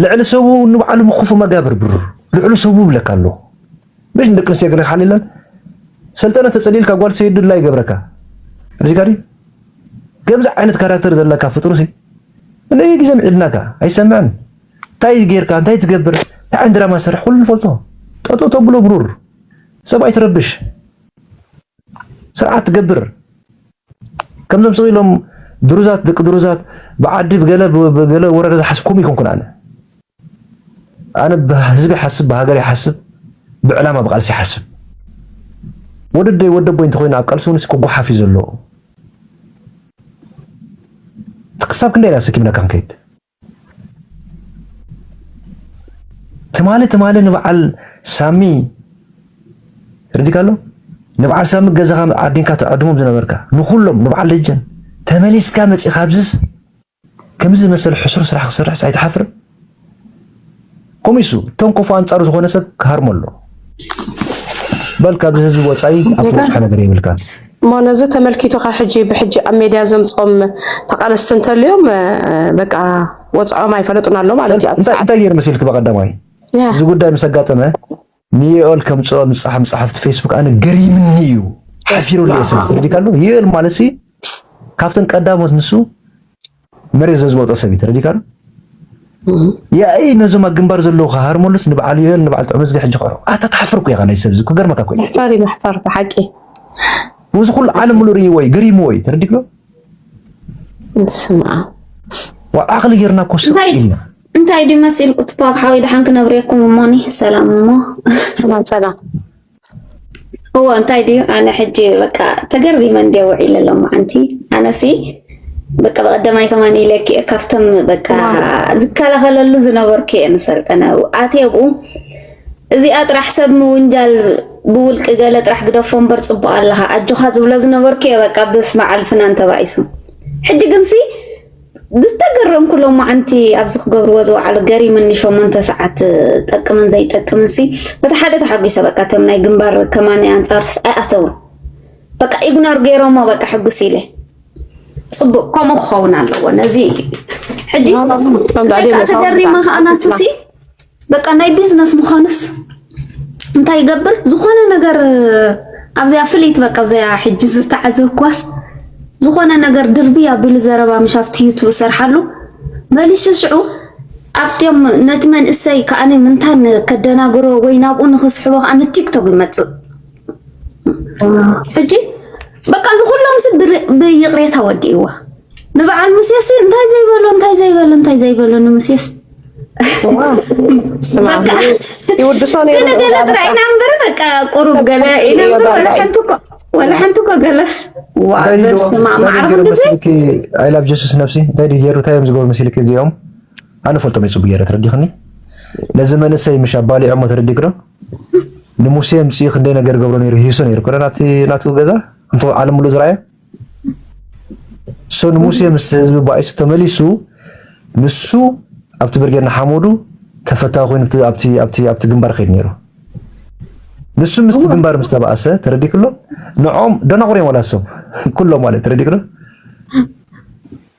ልዕሊ ሰቡ ንባዕሉ ምክፉ መጋብር ብር ልዕሉ ሰቡ ብለካ ኣለኹ ምሽ ንደቂ ኣንስትዮ ገለ ክሓልለን ሰልጠነ ተጸሊልካ ጓል ሰይዱ ድላ ይገብረካ ሪካሪ ከምዚ ዓይነት ካራክተር ዘለካ ፍጡር ሲ እለይ ግዜ ምዒድናካ ኣይሰምዕን እንታይ ጌርካ እንታይ ትገብር እንታይ ዓይነት ድራማ ሰርሕ ኩሉ ንፈልጦ ጠጠው ተብሎ ብሩር ሰብ ኣይትረብሽ ስርዓት ትገብር ከምዞም ስቅ ኢሎም ድሩዛት ደቂ ድሩዛት ብዓዲ ብገለ ብገለ ወረዳ ዝሓስብ ከምኡ ኣይኮንኩን ኣነ ኣነ ብህዝቢ ይሓስብ ብሃገር ይሓስብ ብዕላማ ብቃልሲ ይሓስብ ወደደይ ወደ ቦይ እንተኮይኑ ኣብ ቃልሲ እውን ክጓሓፍ እዩ ዘለዎ ክሳብ ክንደይ ኢና ሰኪምናካ ክንከይድ ትማሊ ትማሊ ንበዓል ሳሚ ርዲካሎ ንበዓል ሳሚ ገዛኻ ዓዲንካ ትዕድሞም ዝነበርካ ንኹሎም ንበዓል ደጀን ተመሊስካ መፂኻ ኣብዝስ ከምዚ መሰል ሕሱር ስራሕ ክሰርሕስ ኣይትሓፍርን? ኮሚሱ እቶም ኮፉ ኣንጻሩ ዝኾነ ሰብ ክሃርሞ ኣሎ በል ካብዚ ህዝቢ ወጻኢ ኣብ ትበጽሖ ነገር የብልካን። እሞ ነዚ ተመልኪቱካ ሕጂ ብሕጂ ኣብ ሜድያ ዘምጾም ተቃለስቲ እንተልዮም በቃ ወጽዖም ኣይፈለጡን ኣሎ ማለት እዩ። እንታይ ገይር መሲልክ በቀዳማይ እዚ ጉዳይ ምስ ኣጋጠመ ንዩኤል ከምጽኦ ንጻሕ ምጻሕፍቲ ፌስቡክ ኣነ ገሪምኒ እዩ ሓሲሩለይ ስለ ተረዲካሉ ዩኤል ማለት ሲ ካብተን ቀዳሞት ንሱ መሬት ዘዝወጦ ሰብ እዩ ተረዲካሉ ያኢ ነዞም ኣብ ግንባር ዘለዉ ክሃርመሉስ ንበዓል ዩኤል ንበዓል ጥዑም ዝጊ ሕጂ ክዕሮ ኣታ ተሓፍርኩ ኢኻ ናይ ሰብ እዚ ክገርመካ ኮ መሕፈሪ መሕፈር ብሓቂ እዚ ኩሉ ዓለም ሙሉ ርእይዎ እዩ ገሪምዎ እዩ ተረዲክሎ ስማ ዓቕሊ ጌርና ኮ ስቕ ኢልና እንታይ ድዩ መሲልኩ ትፓክ ሓወይ ድሓን ክነብሬኩም እሞኒ ሰላም እሞ ሰላም ሰላም እዎ እንታይ ድዩ ኣነ ሕጂ በቃ ተገሪመ እንዲ ውዒለ ሎ መዓንቲ ኣነሲ በቃ በቀደማይ ከማን ኢለኪ ካብቶም በቃ ዝከላኸለሉ ዝነበርኩ እየ ንሰልጠነ ኣትየ ብኡ እዚኣ ጥራሕ ሰብ ምውንጃል ብውልቂ ገለ ጥራሕ ግደፎ እምበር ፅቡቅ ኣለካ ኣጆካ ዝብሎ ዝነበርኩ እየ በቃ ብስመ ዓልፍና እንተባኢሱ ሕጂ ግንሲ ዝተገረምኩ ሎማዓንቲ ኣብዚ ክገብርዎ ዝወዓሉ ገሪምኒ ሸሞንተ ሰዓት ጠቅምን ዘይጠቅምን ሲ በቲ ሓደ ተሓጒሰ በቃ እቶም ናይ ግንባር ከማኒ ኣንጻርስ ኣይኣተውን በቃ ኢግኖር ገይሮሞ በቃ ሕጉስ ኢለ ፅቡቅ ከምኡ ክኸውን ኣለዎ ነዚ ሕጂ ተገሪመ ከዓ ናትሲ በቃ ናይ ቢዝነስ ምዃኑስ እንታይ ይገብር ዝኾነ ነገር ኣብዚኣ ፍልይት በቃ ኣብዚኣ ሕጂ ዝተዓዘብኳስ ዝኾነ ነገር ድርቢ ኣቢሉ ዘረባ ምሽ ኣብቲ ዩቱብ ሰርሓሉ መሊሱ ሽዑ ኣብቶም ነቲ መንእሰይ ከዓ ምንታን ከደናግሮ ወይ ናብኡ ንክስሕቦ ከዓ ንቲክቶክ ይመፅእ ሕጂ በቃ ንኩሎም ሲ ብይቕሬታ ወዲእዋ ንበዓል ሙሴሲ እንታይ ዘይበሎ እንታይ ዘይበሎ እንታይ ዘይበሎ ንምሴስ ኣይላብ ጀሱስ ነብሲ እንታይ ድዩ ጌሩ እንታይ እዮም ዝገብሩ መሲልክ እዚኦም ኣነ ፈልጦም ይፅቡ ጌረ ተረዲኽኒ ነዚ መንእሰይ ምሽ ኣባሊዖሞ ተረዲግዶ ንሙሴ ምፅኡ ክንደይ ነገር ገብሮ ነይሩ ሂሶ ነይሩ ኮነ ናብቲ ናቱ ገዛ እንተ ዓለም ሙሉ ዝረኣየ ሰኑ ሙሴ ምስ ህዝቢ ባኢሱ ተመሊሱ ንሱ ኣብቲ ብርጌድ ንሓመዱ ተፈታዊ ኮይኑ ኣብቲ ኣብቲ ኣብቲ ግንባር ከይድ ነይሩ ንሱ ምስቲ ግንባር ምስ ተባእሰ ተረዲክሎ ንዖም ደናቑር እዮም ዋላ እሶም ኩሎም ማለት ተረዲክሎ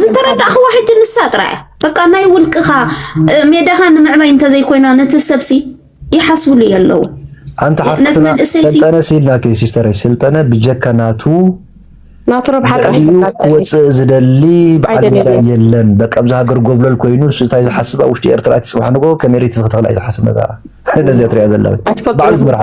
ዝተረዳእኽዋ ሕጂ ንሳ ጥራይ በቃ ናይ ውልቅኻ ሜዳኻ ንምዕባይ እንተዘይኮይና ነቲ ሰብሲ ይሓስብሉ የለዉ ኣንቲ ሓፍትና ሰልጠነ ሲላኪ ሲስተር ስልጠነ ብጀካ ናቱ ናቱ ረብሓ ክወፅእ ዝደሊ በዓል ሜዳ የለን በቃ ኣብዚ ሃገር ጎብለል ኮይኑ እሱ እንታይ ዝሓስብ ኣብ ውሽጢ ኤርትራ እቲ ፅባሕ ንጎ ከመይ ሪት ክትኽእል ዝሓስብ ነታ ነዚኣ ትሪኣ ዘላ በዓል ዝምርሓ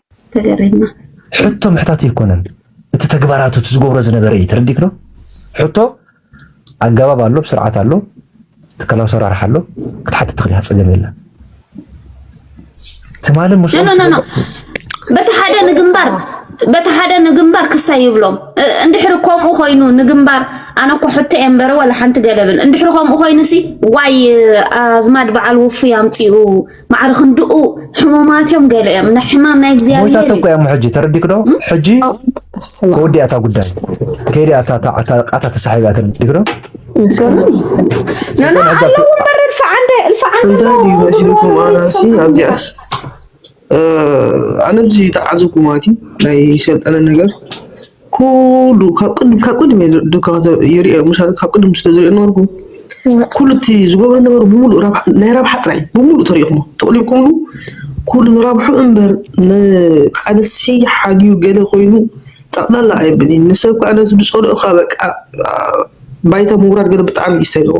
ተገሪምና። ሕቶ ምሕታት ኣይኮነን እቲ ተግባራቱ እቲ ዝገብሮ ዝነበረ እዩ ተረዲክ ዶ ሕቶ ኣገባብ ኣሎ ስርዓት ኣሎ ትካላዊ ሰራርሓ ኣሎ ክትሓትት ትኽእል ኢኻ ፀገም የለን ትማሊ ምስ በቲ ሓደ ንግንባር በቲ ሓደ ንግንባር ክስታይ ይብሎም እንድሕሪ ከምኡ ኮይኑ ንግንባር ኣነ እኮ ሕቶ እየ እምበረ ወላ ሓንቲ ገለብል እንድሕሪ ከምኡ ኮይኑ ሲ ዋይ ኣዝማድ በዓል ውፉይ ኣምፅኡ ማዕረ ክንድኡ ሕሙማት እዮም ገለ እዮም ንሕማም ናይ እግዚኣብሔር ሞይታ ተኮ እሞ ሕጂ ተረዲክ ዶ ሕጂ ተወዲኣ እታ ጉዳይ ከይዲ ኣታ ቃታ ተሳሒባ ተረዲክ ዶ ኣነ ብዚ ተዓዘብኩ ማለት እዩ ናይ ሰልጠነ ነገር ኩሉ ካብ ቅድም ካብ ቅድም እየ ዶ ካብ ይሪኦ ምሻ ካብ ቅድም ስለ ዝሪኦ ነበርኩ ኩሉ እቲ ዝገብሮ ነበሩ ብምሉእ ናይ ረብሓ ጥራይ ብምሉእ ተሪኢኹሞ ተቕሊብኩምሉ ኩሉ ንረብሑ እምበር ንቃልሲ ሓልዩ ገለ ኮይኑ ጠቕላላ ኣይብል እዩ ንሰብ ከዓ ነቲ ዝፀልኦ ከዓ በቃ ባይታ ምውራድ ገለ ብጣዕሚ እዩ ዝሰልዎ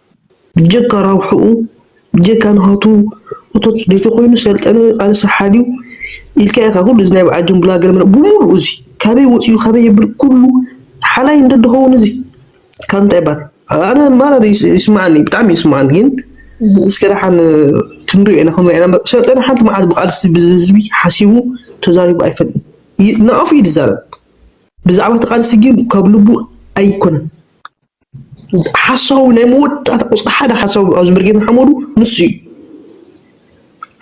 ብጀካ ራብሕኡ ብጀካ ናቱ እቶት ደይተኮይኑ ሰልጠነ ቃልሲ ሓልዩ ኢልካ ኢካ ኩሉ እዚ ናይ በዓል ድንቡላ ገለመለ ብሙሉኡ እዚ ካበይ ወፂኡ ካበይ የብል ኩሉ ሓላይ እንተድከውን እዚ ካብ እንታይ ባር ኣነ ማራ ይስማዓኒ ብጣዕሚ ይስማዓኒ ግን እስከ ደሓን ክንሪኦ ኢና ክንሪኦ ኢና እምበር ሰልጠነ ሓንቲ መዓልቲ ብቃልሲ ብዝህዝቢ ሓሲቡ ተዛሪቡ ኣይፈልጥን ይ- ንኣፉ እዩ ዝዛረብ ብዛዕባ እቲ ቃልሲ ግን ካብ ልቡ ኣይኮነን ሓሳዊ ናይ መወዳእታ ቁፅሪ ሓደ ሓሳዊ ኣብዚ ብርጌ ንሓመዱ ንሱ እዩ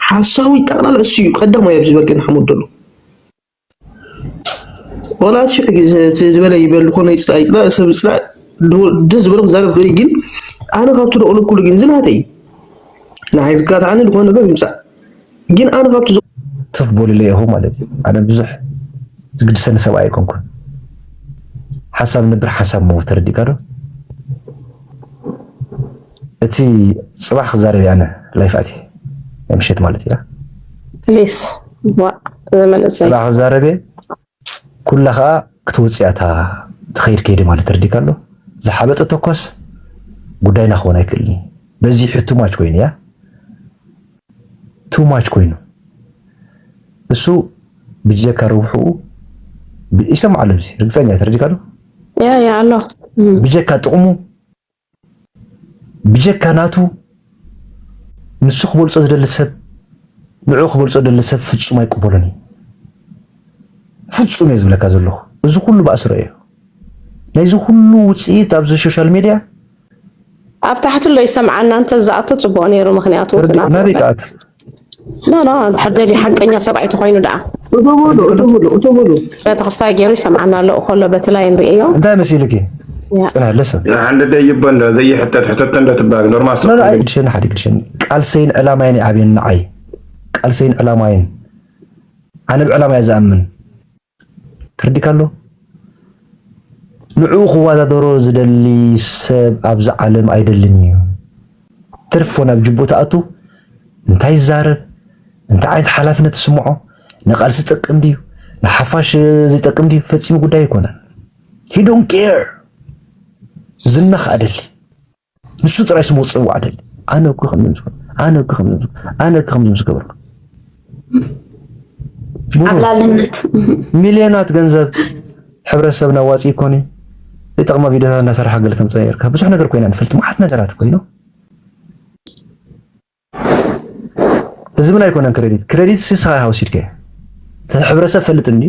ሓሳዊ ጠቕላላ እሱ እዩ ቀዳማይ ኣብዚ ብርጌ ንሓመዱ ዘሎ ዋላ እቲ ሽሕ ግዜ እቲ ዝበለ ይበል ኮነ ይፅላእ ይፅላእ ሰብ ይፅላእ ዶ- ደስ ዝበሎ ክዛረብ ይኽእል እዩ፣ ግን ኣነ ካብቲ ደቕሉ ኩሉ ግን እዚ ናተይ እዩ ንሓይልካ ተዓኒ ዝኾነ ነገር ይምፃእ ግን ኣነ ካብቲ ትፍ በሉለይ ኢኹም ማለት እዩ። ኣነ ብዙሕ ዝግድሰኒ ሰብኣይ ኣይኮንኩን። ሓሳብ ንብር ሓሳብ ምሁ ተረዲእካ ዶ? እቲ ፅባሕ ክዛረብ ኣነ ላይፍ ኣትየ ናይ ምሸት ማለት እያ ፕሊስ ፅባሕ ክዛረብ ፕጽ ኩላ ከኣ ክትወጽእ እያ እታ ትኸይድ ከይዲ ማለት ተረዲካ ኣሎ ዝሓበጠ ተኳስ ጉዳይና ክኾን ኣይክእልን እዩ በዚሑ ቱ ማች ኮይኑ እያ ቱ ማች ኮይኑ እሱ ብጀካ ርብሕኡ ይሰምዓሉ እዚ ርግጸኛ ተረዲካ ዶ ያ ያ ኣሎ ብጀካ ጥቕሙ ብጀካ ናቱ ንሱ ክበልጾ ዝደሊ ሰብ ንዑ ክበልጾ ዝደሊ ሰብ ፍጹም ኣይቅበሎን እዩ። ፍጹም እየ ዝብለካ ዘለኹ እዚ ኩሉ ባእስሮ እዩ ናይዚ ኩሉ ውጽኢት ኣብዚ ሶሻል ሚድያ ኣብ ታሕቲ ኣሎ ይሰምዓና እንተዝኣቱ ጽቡቕ ነይሩ ምክንያቱ ናበይ ክኣቱ ኖኖ ተሓደሊ ሓቀኛ ሰብኣይ ተኮይኑ ደኣ እቶ በሉ እቶ በሉ እቶ በሉ ቤተክርስታይ ገይሩ ይሰምዓና ኣሎ ከሎ በቲ ላይ ንርእዮ እንታይ መሲሉኪ ፅነ ልስን ንሓንደ ደይቦ እንዶ ዘይሕተት ሕተተ እንዶ ትባል ኖርማል ኖ ኣይ ግድሽን ሓዲ ግድሽን ቃልሰይን ዕላማይን ኣብየን ንዓይ ቃልሰይን ዕላማይን ኣነ ብዕላማ እየ ዝኣምን ተረዲካ ኣሎ ንዕኡ ክዋዳደሮ ዝደሊ ሰብ ኣብዚ ዓለም ኣይደልን እዩ ትርፎ ናብ ጅቡኡ ተኣቱ እንታይ ይዛረብ እንታይ ዓይነት ሓላፍነት ትስምዖ ንቃልሲ ጠቅም ድዩ ንሓፋሽ ዘይጠቅም ድዩ ፈፂሙ ጉዳይ ኣይኮነን ሂዶን ኬር ዝና ከኣ ደሊ ንሱ ጥራይ ስሙ ክጽዋዕ ደሊ ኣነ እኮ ከምዚ ኣነ እኮ ከምዚ ኣነ እኮ ከምዚ ምስ ገበርኩ ዓብላልነት ሚልዮናት ገንዘብ ሕብረተሰብና ዋፂ ኮኒ ይጠቕማ ቪድዮታት እናሰራሕ ገለ ተምፅኦ ነርካ ብዙሕ ነገር ኮይና ንፈልጥ መዓት ነገራት ኮይኑ ህዝብና ኣይኮነን ክሬዲት ክሬዲት ስስኻ ሃውሲድከ ሕብረተሰብ ፈልጥ እንዲ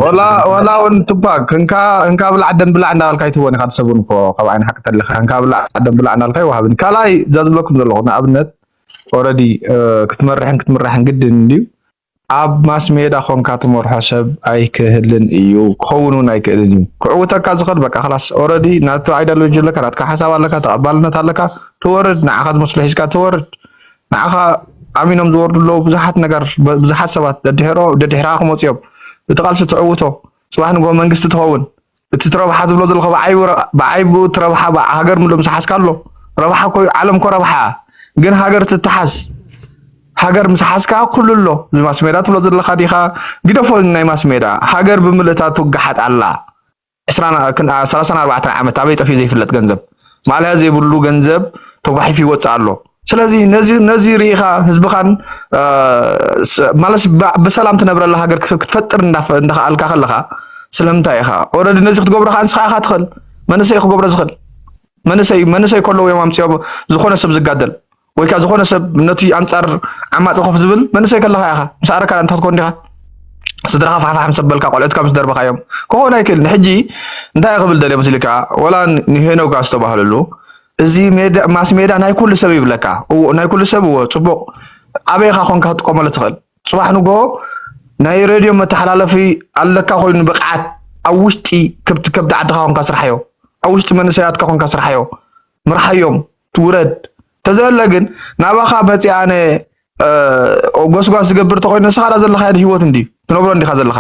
ወላ ወላ ውን ቱፓክ እንካ እንካ ብላዕ ደም ብላዕ እንዳበልካ ይትወን ኢኻ ትሰቡን እኮ ካብ ዓይን ሓቂ ተለኻ እንካ ብላዕ ደም ብላዕ እንዳበልካ ይወሃብን ካልኣይ እዛ ዝብለኩም ዘለኹ ንኣብነት ኦልሬዲ ክትመርሕን ክትምራሕን ግድን እንድዩ ኣብ ማስሜዳ ኮንካ ትመርሖ ሰብ ኣይክህልን እዩ ክኸውን ውን ኣይክእልን እዩ ክዕውተካ ዝኽእል በቃ ክላስ ኦረዲ ናቱ ኣይዳሎጂ ኣለካ ናትካ ሓሳብ ኣለካ ተቐባልነት ኣለካ ትወርድ ንዓኻ ዝመስሎ ሒዝካ ትወርድ ንዓኻ ኣሚኖም ዝወርዱ ኣለዉ ብዙሓት ነገር ብዙሓት ሰባት ደድሕሮ ደድሕርኻ ክመፁ እዮም እቲ ቃልሲ ትዕውቶ ጽባሕ ንግሆ መንግስቲ ትኸውን እቲ ትረብሓ ትብሎ ዘለካ ብዓይ ብኡ ትረብሓ ሃገር ምሎ ምስ ሓስካ ኣሎ ረብሓ ኮዩ ዓለም ኮ ረብሓ ግን ሃገር ትትሓስ ሃገር ምስ ሓስካ ኩሉ ኣሎ እዚ ማስሜዳ ትብሎ ዘለካ ዲካ ግደፎ ናይ ማስሜዳ ሃገር ብምልእታ ትውግሓጥ ኣላ ዕስራን ሰላሳን ኣርባዕተን ዓመት ኣበይ ጠፊኡ ዘይፍለጥ ገንዘብ ማልያ ዘይብሉ ገንዘብ ተጓሒፉ ይወፅእ ኣሎ። ስለዚ ነዚ ርኢኻ ህዝብኻን ማለት ብሰላም ትነብረላ ሃገር ክትፈጥር እንዳኸኣልካ ከለኻ ስለምንታይ ኢኻ ኦልሬዲ ነዚ ክትገብሮ ከዓ ንስኻ ኢኻ ትኽእል መንእሰይ ክገብሮ ዝኽእል መንእሰይ መንእሰይ ከለዉ እዮም ኣምፅኦም ዝኾነ ሰብ ዝጋደል ወይ ከዓ ዝኾነ ሰብ ነቲ ኣንፃር ዓማፂ ኮፍ ዝብል መንእሰይ ከለካ ኢኻ ምስ ኣረካ እንተ ክትኮን ዲኻ ስድራኻ ፋሕፋሕ ምስ ኣበልካ ቆልዑትካ ምስ ደርበኻዮም ክኾን ኣይክእልን ሕጂ እንታይ ክብል ደልየ መስልካ ወላ ንሄኖጋ ዝተባህለሉ እዚ ማስ ሜዳ ናይ ኩሉ ሰብ ይብለካ ናይ ኩሉ ሰብ እዎ ፅቡቅ ኣበይ ኢኻ ኮንካ ክትጥቀመሉ ትኽእል ፅባሕ ንጎ ናይ ሬድዮ መተሓላለፊ ኣለካ ኮይኑ ብቅዓት ኣብ ውሽጢ ከብዲ ዓድካ ኮንካ ስርሓዮ ኣብ ውሽጢ መንእሰያትካ ኮንካ ስርሓዮ ምርሓዮም ውረድ ተዘለ ግን ናባኻ መፅኣ ኣነ ጎስጓስ ዝገብር ተኮይኑ ንስኻ ዳ ዘለኻ ህይወት እንዲ ትነብሮ እንዲኻ ዘለኻ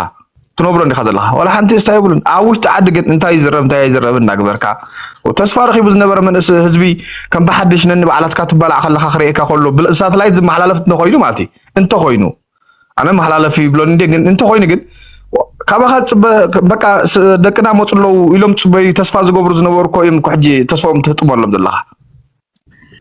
ትነብሮ እንዲኻ ዘለኻ ዋላ ሓንቲ ስታ የብሉን ኣብ ውሽጢ ዓዲ ግን እንታይ ይዝረብ እንታይ ኣይዝረብ እናግበርካ ተስፋ ረኺቡ ዝነበረ መንእስ ህዝቢ ከም ብሓድሽ ነኒ በዓላትካ ትባላዕ ከለኻ ክርእየካ ከሎ ብሳተላይት ዝመሓላለፍ እንተኮይኑ ማለት እዩ እንተኮይኑ ኣነ መሓላለፊ ይብሎን እንዴ ግን እንተኮይኑ ግን ካባካ ዝፅበ በቃ ደቅና መፁ ኣለዉ ኢሎም ፅበዩ ተስፋ ዝገብሩ ዝነበሩ እኮ እዮም እኮ ሕጂ ተስፎም ትህጥመሎም ዘለካ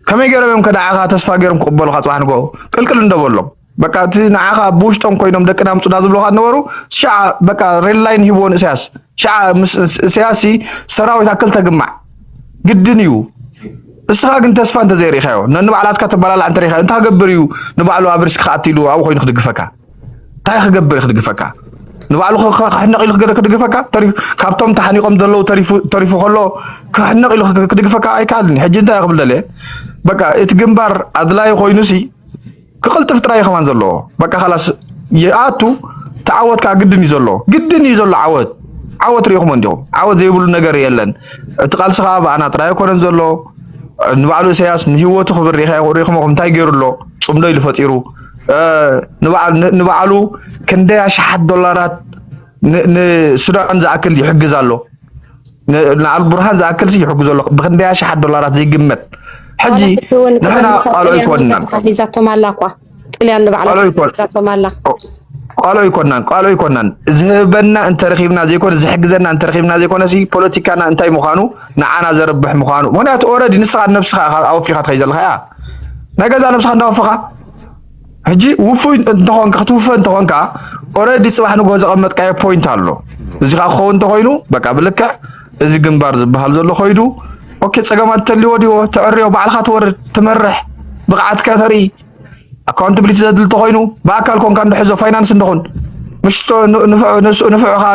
ከመይ ገይሮም እዮም ከነዓኻ ተስፋ ገይሮም ክቕበሉካ ፅባሕ ንግሆ ቅልቅል እንደበሎም በቃ እቲ ንዓኻ ብውሽጦም ኮይኖም ደቅና ምፁና ዝብለካ ዝነበሩ ሸዓ በቃ ሬድ ላይን ሂብዎ ንእስያስ ሸዓ ምስ እስያስ ሰራዊት ኣክልተ ግማዕ ግድን እዩ እስኻ ግን ተስፋ እንተዘይሪኢኻዮ ነንባዕላትካ ተባላላዕ እንተሪኢኻዮ እንታይ ክገብር እዩ ንባዕሉ ኣብ ሪስክ ክኣቲ ኢሉ ኣብኡ ኮይኑ ክድግፈካ እንታይ ክገብር እዩ ክድግፈካ ንባዕሉ ክሕነቕ ኢሉ ክድግፈካ ካብቶም ተሓኒቖም ዘለዉ ተሪፉ ከሎ ክሕነቕ ኢሉ ክድግፈካ ኣይከኣልን ሕጂ እንታይ ክብል ደልየ በቃ እቲ ግንባር ኣድላዪ ኮይኑሲ ክቕልጥፍ ጥራይ እዩ ከማን ዘለዎ በቃ ካላስ ይኣቱ ተዓወት ከዓ ግድን እዩ ዘሎ ግድን እዩ ዘሎ ዓወት ዓወት ሪኢኹሞ እንዲኹም ዓወት ዘይብሉ ነገር የለን እቲ ቃልሲ ከዓ ብኣና ጥራይ ኣይኮነን ዘሎ ንባዕሉ ኢሳያስ ንህይወቱ ክብር ሪኢኹሞ እንታይ ገይሩ ኣሎ ፅምዶ ኢሉ ፈጢሩ ንባዕሉ ክንደይ ኣሽሓት ዶላራት ንሱዳን ዝኣክል ይሕግዝ ኣሎ ንኣልቡርሃን ዝኣክል ሲ ይሕግዞ ኣሎ ብክንደይ ኣሽሓት ዶላራት ዘይግመት ሕጂ ንሕና ቃልዑ ኣይኮንናን ሒዛቶም ኣላ እኳ ጥልያን ንባዕላ ሒዛቶም ኣላ ቃልዑ ኣይኮንናን ቃልዑ ኣይኮንናን ዝህበና እንተረኺብና ዘይኮነ ዝሕግዘና እንተረኺብና ዘይኮነ ሲ ፖለቲካና እንታይ ምዃኑ ንዓና ዘርብሕ ምዃኑ ምክንያቱ ኦረዲ ንስኻ ነብስኻ ኣወፊኻ ትኸይ ዘለኻ እያ ናይ ገዛ ነብስኻ እንዳወፈኻ ሕጂ ውፉይ እንተኾንካ ክትውፈ እንተኾንካ ኦረዲ ጽባሕ ንግሆ ዘቐመጥካዮ ፖይንት ኣሎ። እዚ ከዓ ክኸውን እንተኾይኑ በቃ ብልክዕ እዚ ግንባር ዝበሃል ዘሎ ኮይዱ ኦኬ፣ ጸገማት ተልዎ ድዎ ተዕርዮ ባዕልካ ትወርድ ትመርሕ ብቕዓትካ ተርኢ ኣካውንታብሊቲ ዘድሊ እንተኾይኑ ብኣካል ኮንካ እንድሕዞ ፋይናንስ እንደኹን ምሽቶ ንፍዕ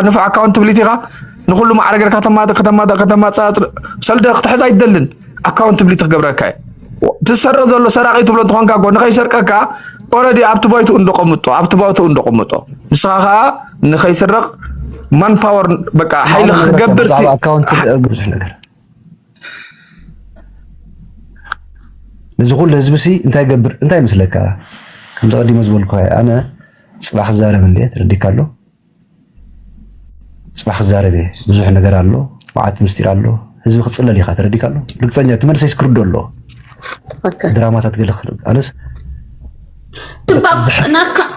ንፍዕ ኣካውንታብሊቲ ኢኻ ንኩሉ ማዕረ ገርካ ተማተ ከተማተ ከተማፃፅ ሰልደ ክትሕዝ ኣይትደልን ኣካውንትብሊቲ ክገብረካ እዩ ትሰረ ዘሎ ሰራቂ ትብሎ እንትኾንካ ጎ ንከይሰርቀካ ኦረዲ ኣብቲ ባይትኡ እንደቆምጦ ኣብቲ ባይትኡ እንደቆምጦ ንስኻ ከዓ ንከይስረቅ ማን ፓወር በቃ ሓይሊ ክገብር ኣካውንቲ ብዙሕ ነገር እዚ ኩሉ ህዝቢ ሲ እንታይ ገብር እንታይ ምስለካ ከምዚ ቀዲመ ዝበልኩ ኣነ ፅባሕ ክዛረብ እንደ ትረዲካ ኣሎ ጽባሕ ክዛረብ እየ ብዙሕ ነገር ኣሎ መዓት ምስጢር ኣሎ ህዝቢ ክጽለል ኢኻ ተረዲካ ኣሎ ርግፀኛ እቲ መልሰይ ስክርዶ ኣሎ ድራማታት ገለ ኣነስ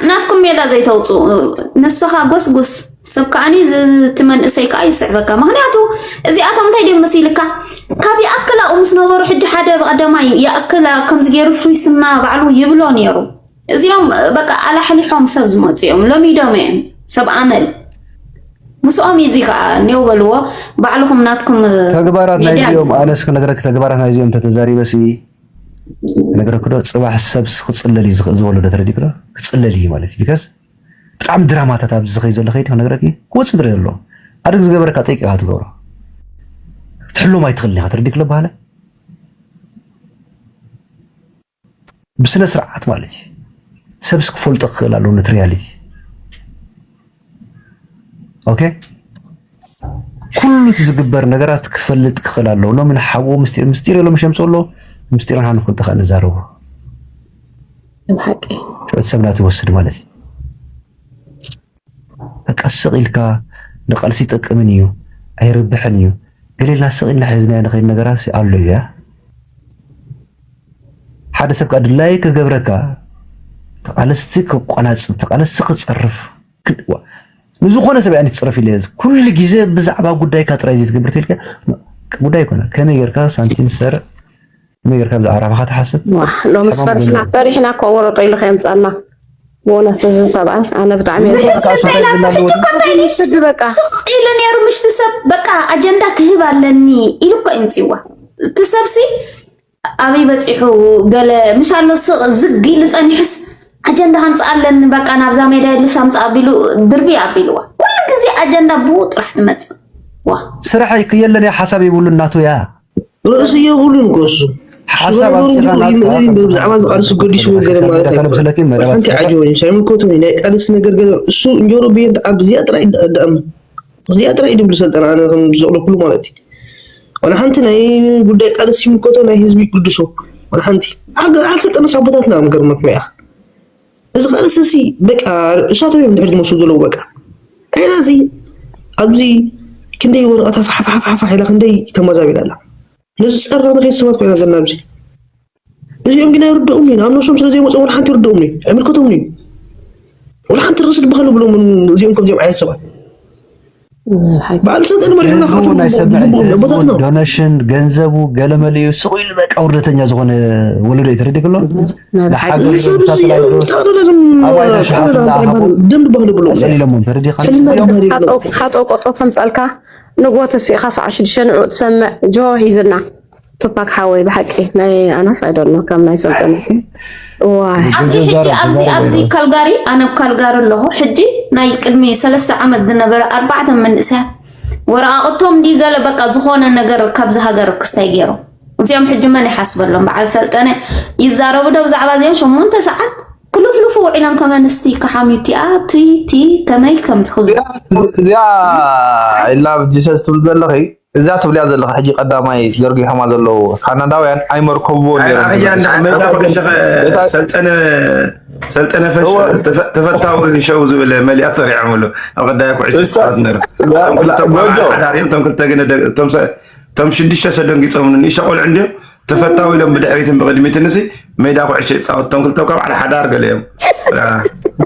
ናትኩም ሜላ ዘይተውፅኡ ንስኻ ጎስጎስ ሰብ ከዓኒ እቲ መንእሰይ ከዓ ይስዕበካ ምክንያቱ እዚኣቶም እንታይ ድዮም መሲልካ ካብ ይኣክል ኣብኡ ምስ ነበሩ ሕጂ ሓደ ብቀዳማይ ይኣክል ከምዚ ገይሩ ፍሪስና ባዕሉ ይብሎ ነይሩ እዚኦም በቃ ኣላሕሊሖም ሰብ ዝመፁ እዮም ሎሚዶም እዮም ሰብ ኣመል ምስኦም እዩ እዚ ከዓ ኔው በልዎ ባዕልኹም ናትኩም ተግባራት ናይ ዚኦም ኣነስ ክነግረኪ ተግባራት ናይ ዚኦም ተተዛሪበሲ ክነግረኪ ዶ ፅባሕ ሰብ ክፅለል እዩ ዝኽእል ዝወለዶ ተረዲእኪ ዶ ክፅለል እዩ ማለት እዩ ቢካዝ ብጣዕሚ ድራማታት ኣብዚ ዝኸይ ዘሎ ከይዲ ክነግረኪ ክወፅእ ትሪኦ ኣሎ ኣድግ ዝገበረካ ጠይቂ ኢኻ ትገብሮ ክትሕሎም ኣይትኽእልን ኢኻ ተረዲእኪ ዶ በሃለ ብስነስርዓት ማለት እዩ ሰብስ ክፈልጦ ክኽእል ኣለዎ ነቲ ሪያሊቲ ኦኬ ኩሉ እቲ ዝግበር ነገራት ክፈልጥ ክኽእል ኣለዎ ሎሚ ንሓዎ ምስጢር ምስጢር የሎ ምሸምፅ ኣሎ ምስጢር ንሓ ንፈልጦ ከዓ ንዛረቦ ጩት ሰብና ትወስድ ማለት እዩ በቃ ስቅ ኢልካ ንቃልሲ ኣይጠቅምን እዩ ኣይርብሕን እዩ ገለ ኢልና ስቅ ኢልና ሒዝናዮ ንከይድ ነገራትሲ ኣሎ እዩ ያእ ሓደ ሰብ ከኣ ድላዩ ክገብረካ ተቃለስቲ ከቋናጽብ ተቃለስቲ ክጸርፍ ንዝኾነ ሰብ ያኒ ትጽርፍ ኢለ ኩሉ ግዜ ብዛዕባ ጉዳይካ ጥራይ ዘይትገብር ተልካ ጉዳይ ይኮና ከመይ ጌርካ ሳንቲም ሰርዕ ከመይ ጌርካ ብዛዕባ ራብሓኻ ትሓስብ ዋህ ሎምስ ሕማም ፈሪሕና ጎንደር ፈሪሕና እኮ ወረጦ ኢሉ ከየምፀና ብእውነት እዚ ሰብኣይ ኣነ ብጣዕሚ እየ ዝፈ- ንስኻ እንታይ ኮይና ዝላሉ ብሕጂ ወዲ እኮ እንታይ ኢሉ ስዲ በቃ ስቕ ኢሉ ነይሩ ምሽቲ ሰብ በቃ ኣጀንዳ ክህብ ኣለኒ ኢሉ እኮ እዩ ምፅዋ እቲ ሰብሲ ኣበይ በፂሑ ገለ ምሽ ኣሎ ስቕ ዝግ ኢሉ ፀኒሑስ ኣጀንዳ ከምፅእ ኣለኒ በቃ ናብዛ ሜዳ የድልስ ኣምፅእ ኣቢሉ ድርቢ ኣቢልዋ ኩሉ ግዜ ኣጀንዳ ብኡ ጥራሕ ትመፅእ ዋ ስራሕ የለን እያ ሓሳብ የብሉን ናቱ እያ ርእሲ የብሉን እኮ እሱ ሓሳብ ኣምፂኻ ናትካ ብዛዕባ ዝቃልሱ ገዲሱ ገለ ማለት ኣይኮነን ሓንቲ ዓጅቦ እዩ ሳይምልከቱን እዩ ናይ ቃልሲ ነገር ገለ እሱ እንጀሮ ብየን ትዓቢ እዚኣ ጥራይ ይዳኣም እዚኣ ጥራይ እዩ ድብሉ ሰልጠና ኣነ ከም ዝቕለኩሉ ማለት እዩ ዋላ ሓንቲ ናይ ጉዳይ ቃልሲ ይምልከቶ ናይ ህዝቢ ይግድሶ ዋላ ሓንቲ ዓሰልጠነ ሳቦታትና ምገርመኩም እያ እዚ ከኣ ንስሲ በቃ ንሳቶም እዮም ድሕሪ ዝመሱ ዘለዉ በቃ ዐይና እዚ ኣብዚ ክንደይ ወረቐታ ፋሕፋሕፋሕ ኢላ ክንደይ ተመዛቢላ ኣላ ነዚ ፀራ ንኸይት ሰባት ኮይና ዘለና ኣብዚ እዚኦም ግን ኣይርድኦም እዩ ናብ ነብሶም ስለ ዘይመፅኦ ወላ ሓንቲ ይርድኦም እዩ ኣይምልከቶምን እዩ ወላ ሓንቲ ርእሲ ድበሃል ብሎም እዚኦም ከምዚኦም ዓይነት ሰባት ዶነሽን ገንዘቡ ገለመለዩ ስቁ ኢሉ በቃ ውርደተኛ ዝኾነ ወለዶ እዩ ተረዲእ ከሎ ሓጦቆጦ ከምፀልካ ንጎተሲእካ ሰዓ ሽዱሽተ ንዑ ትሰምዕ ጆ ሂዝና ቱፓክ ሓወይ ብሓቂ ናይ ኣናስ ኣይደሎ ከም ናይ ሰልጠነ ኣብዚ ካልጋሪ ኣነ ኣብ ካልጋሪ ኣለኹ ሕጂ ናይ ቅድሚ ሰለስተ ዓመት ዝነበረ ኣርባዕተ መንእሰያት ወረቃቅቶም እንዲ ገለ በቃ ዝኾነ ነገር ካብዚ ሃገር ክስታይ ገይሩ እዚኦም ሕጂ መን ይሓስበሎም በዓል ሰልጠነ ይዛረቡ ዶ ብዛዕባ እዚኦም ሸሞንተ ሰዓት ክልፍልፉ ውዒሎም ከም ኣንስቲ ከሓምዩቲኣ ቱይቲ ከመይ ከም ትኽብእዚኣ ኢላ ጂሰስ ትብል ዘለኺ እዛ ትብልያ ዘለኻ ሕጂ ቀዳማይ ዘርጊሖማ ዘለዉ ካናዳውያን ኣይመርከብዎ ሰልጠነ ፈሽ ተፈታዊ ሸው ዝብል መሊያ ሰሪዖምሉ ኣብ ቀዳያ ኩዕሾቶም ክልተ ግን እቶም ሽዱሽተ ሰደንጊፆም ንእሸ ቆልዑ እንዲዮም ተፈታዊ ኢሎም ብድሕሪትን ብቅድሚትንሲ ሜዳ ኩዕሾ ይፃወት እቶም ክልተ እኳ በዓል ሓዳር ገለ እዮም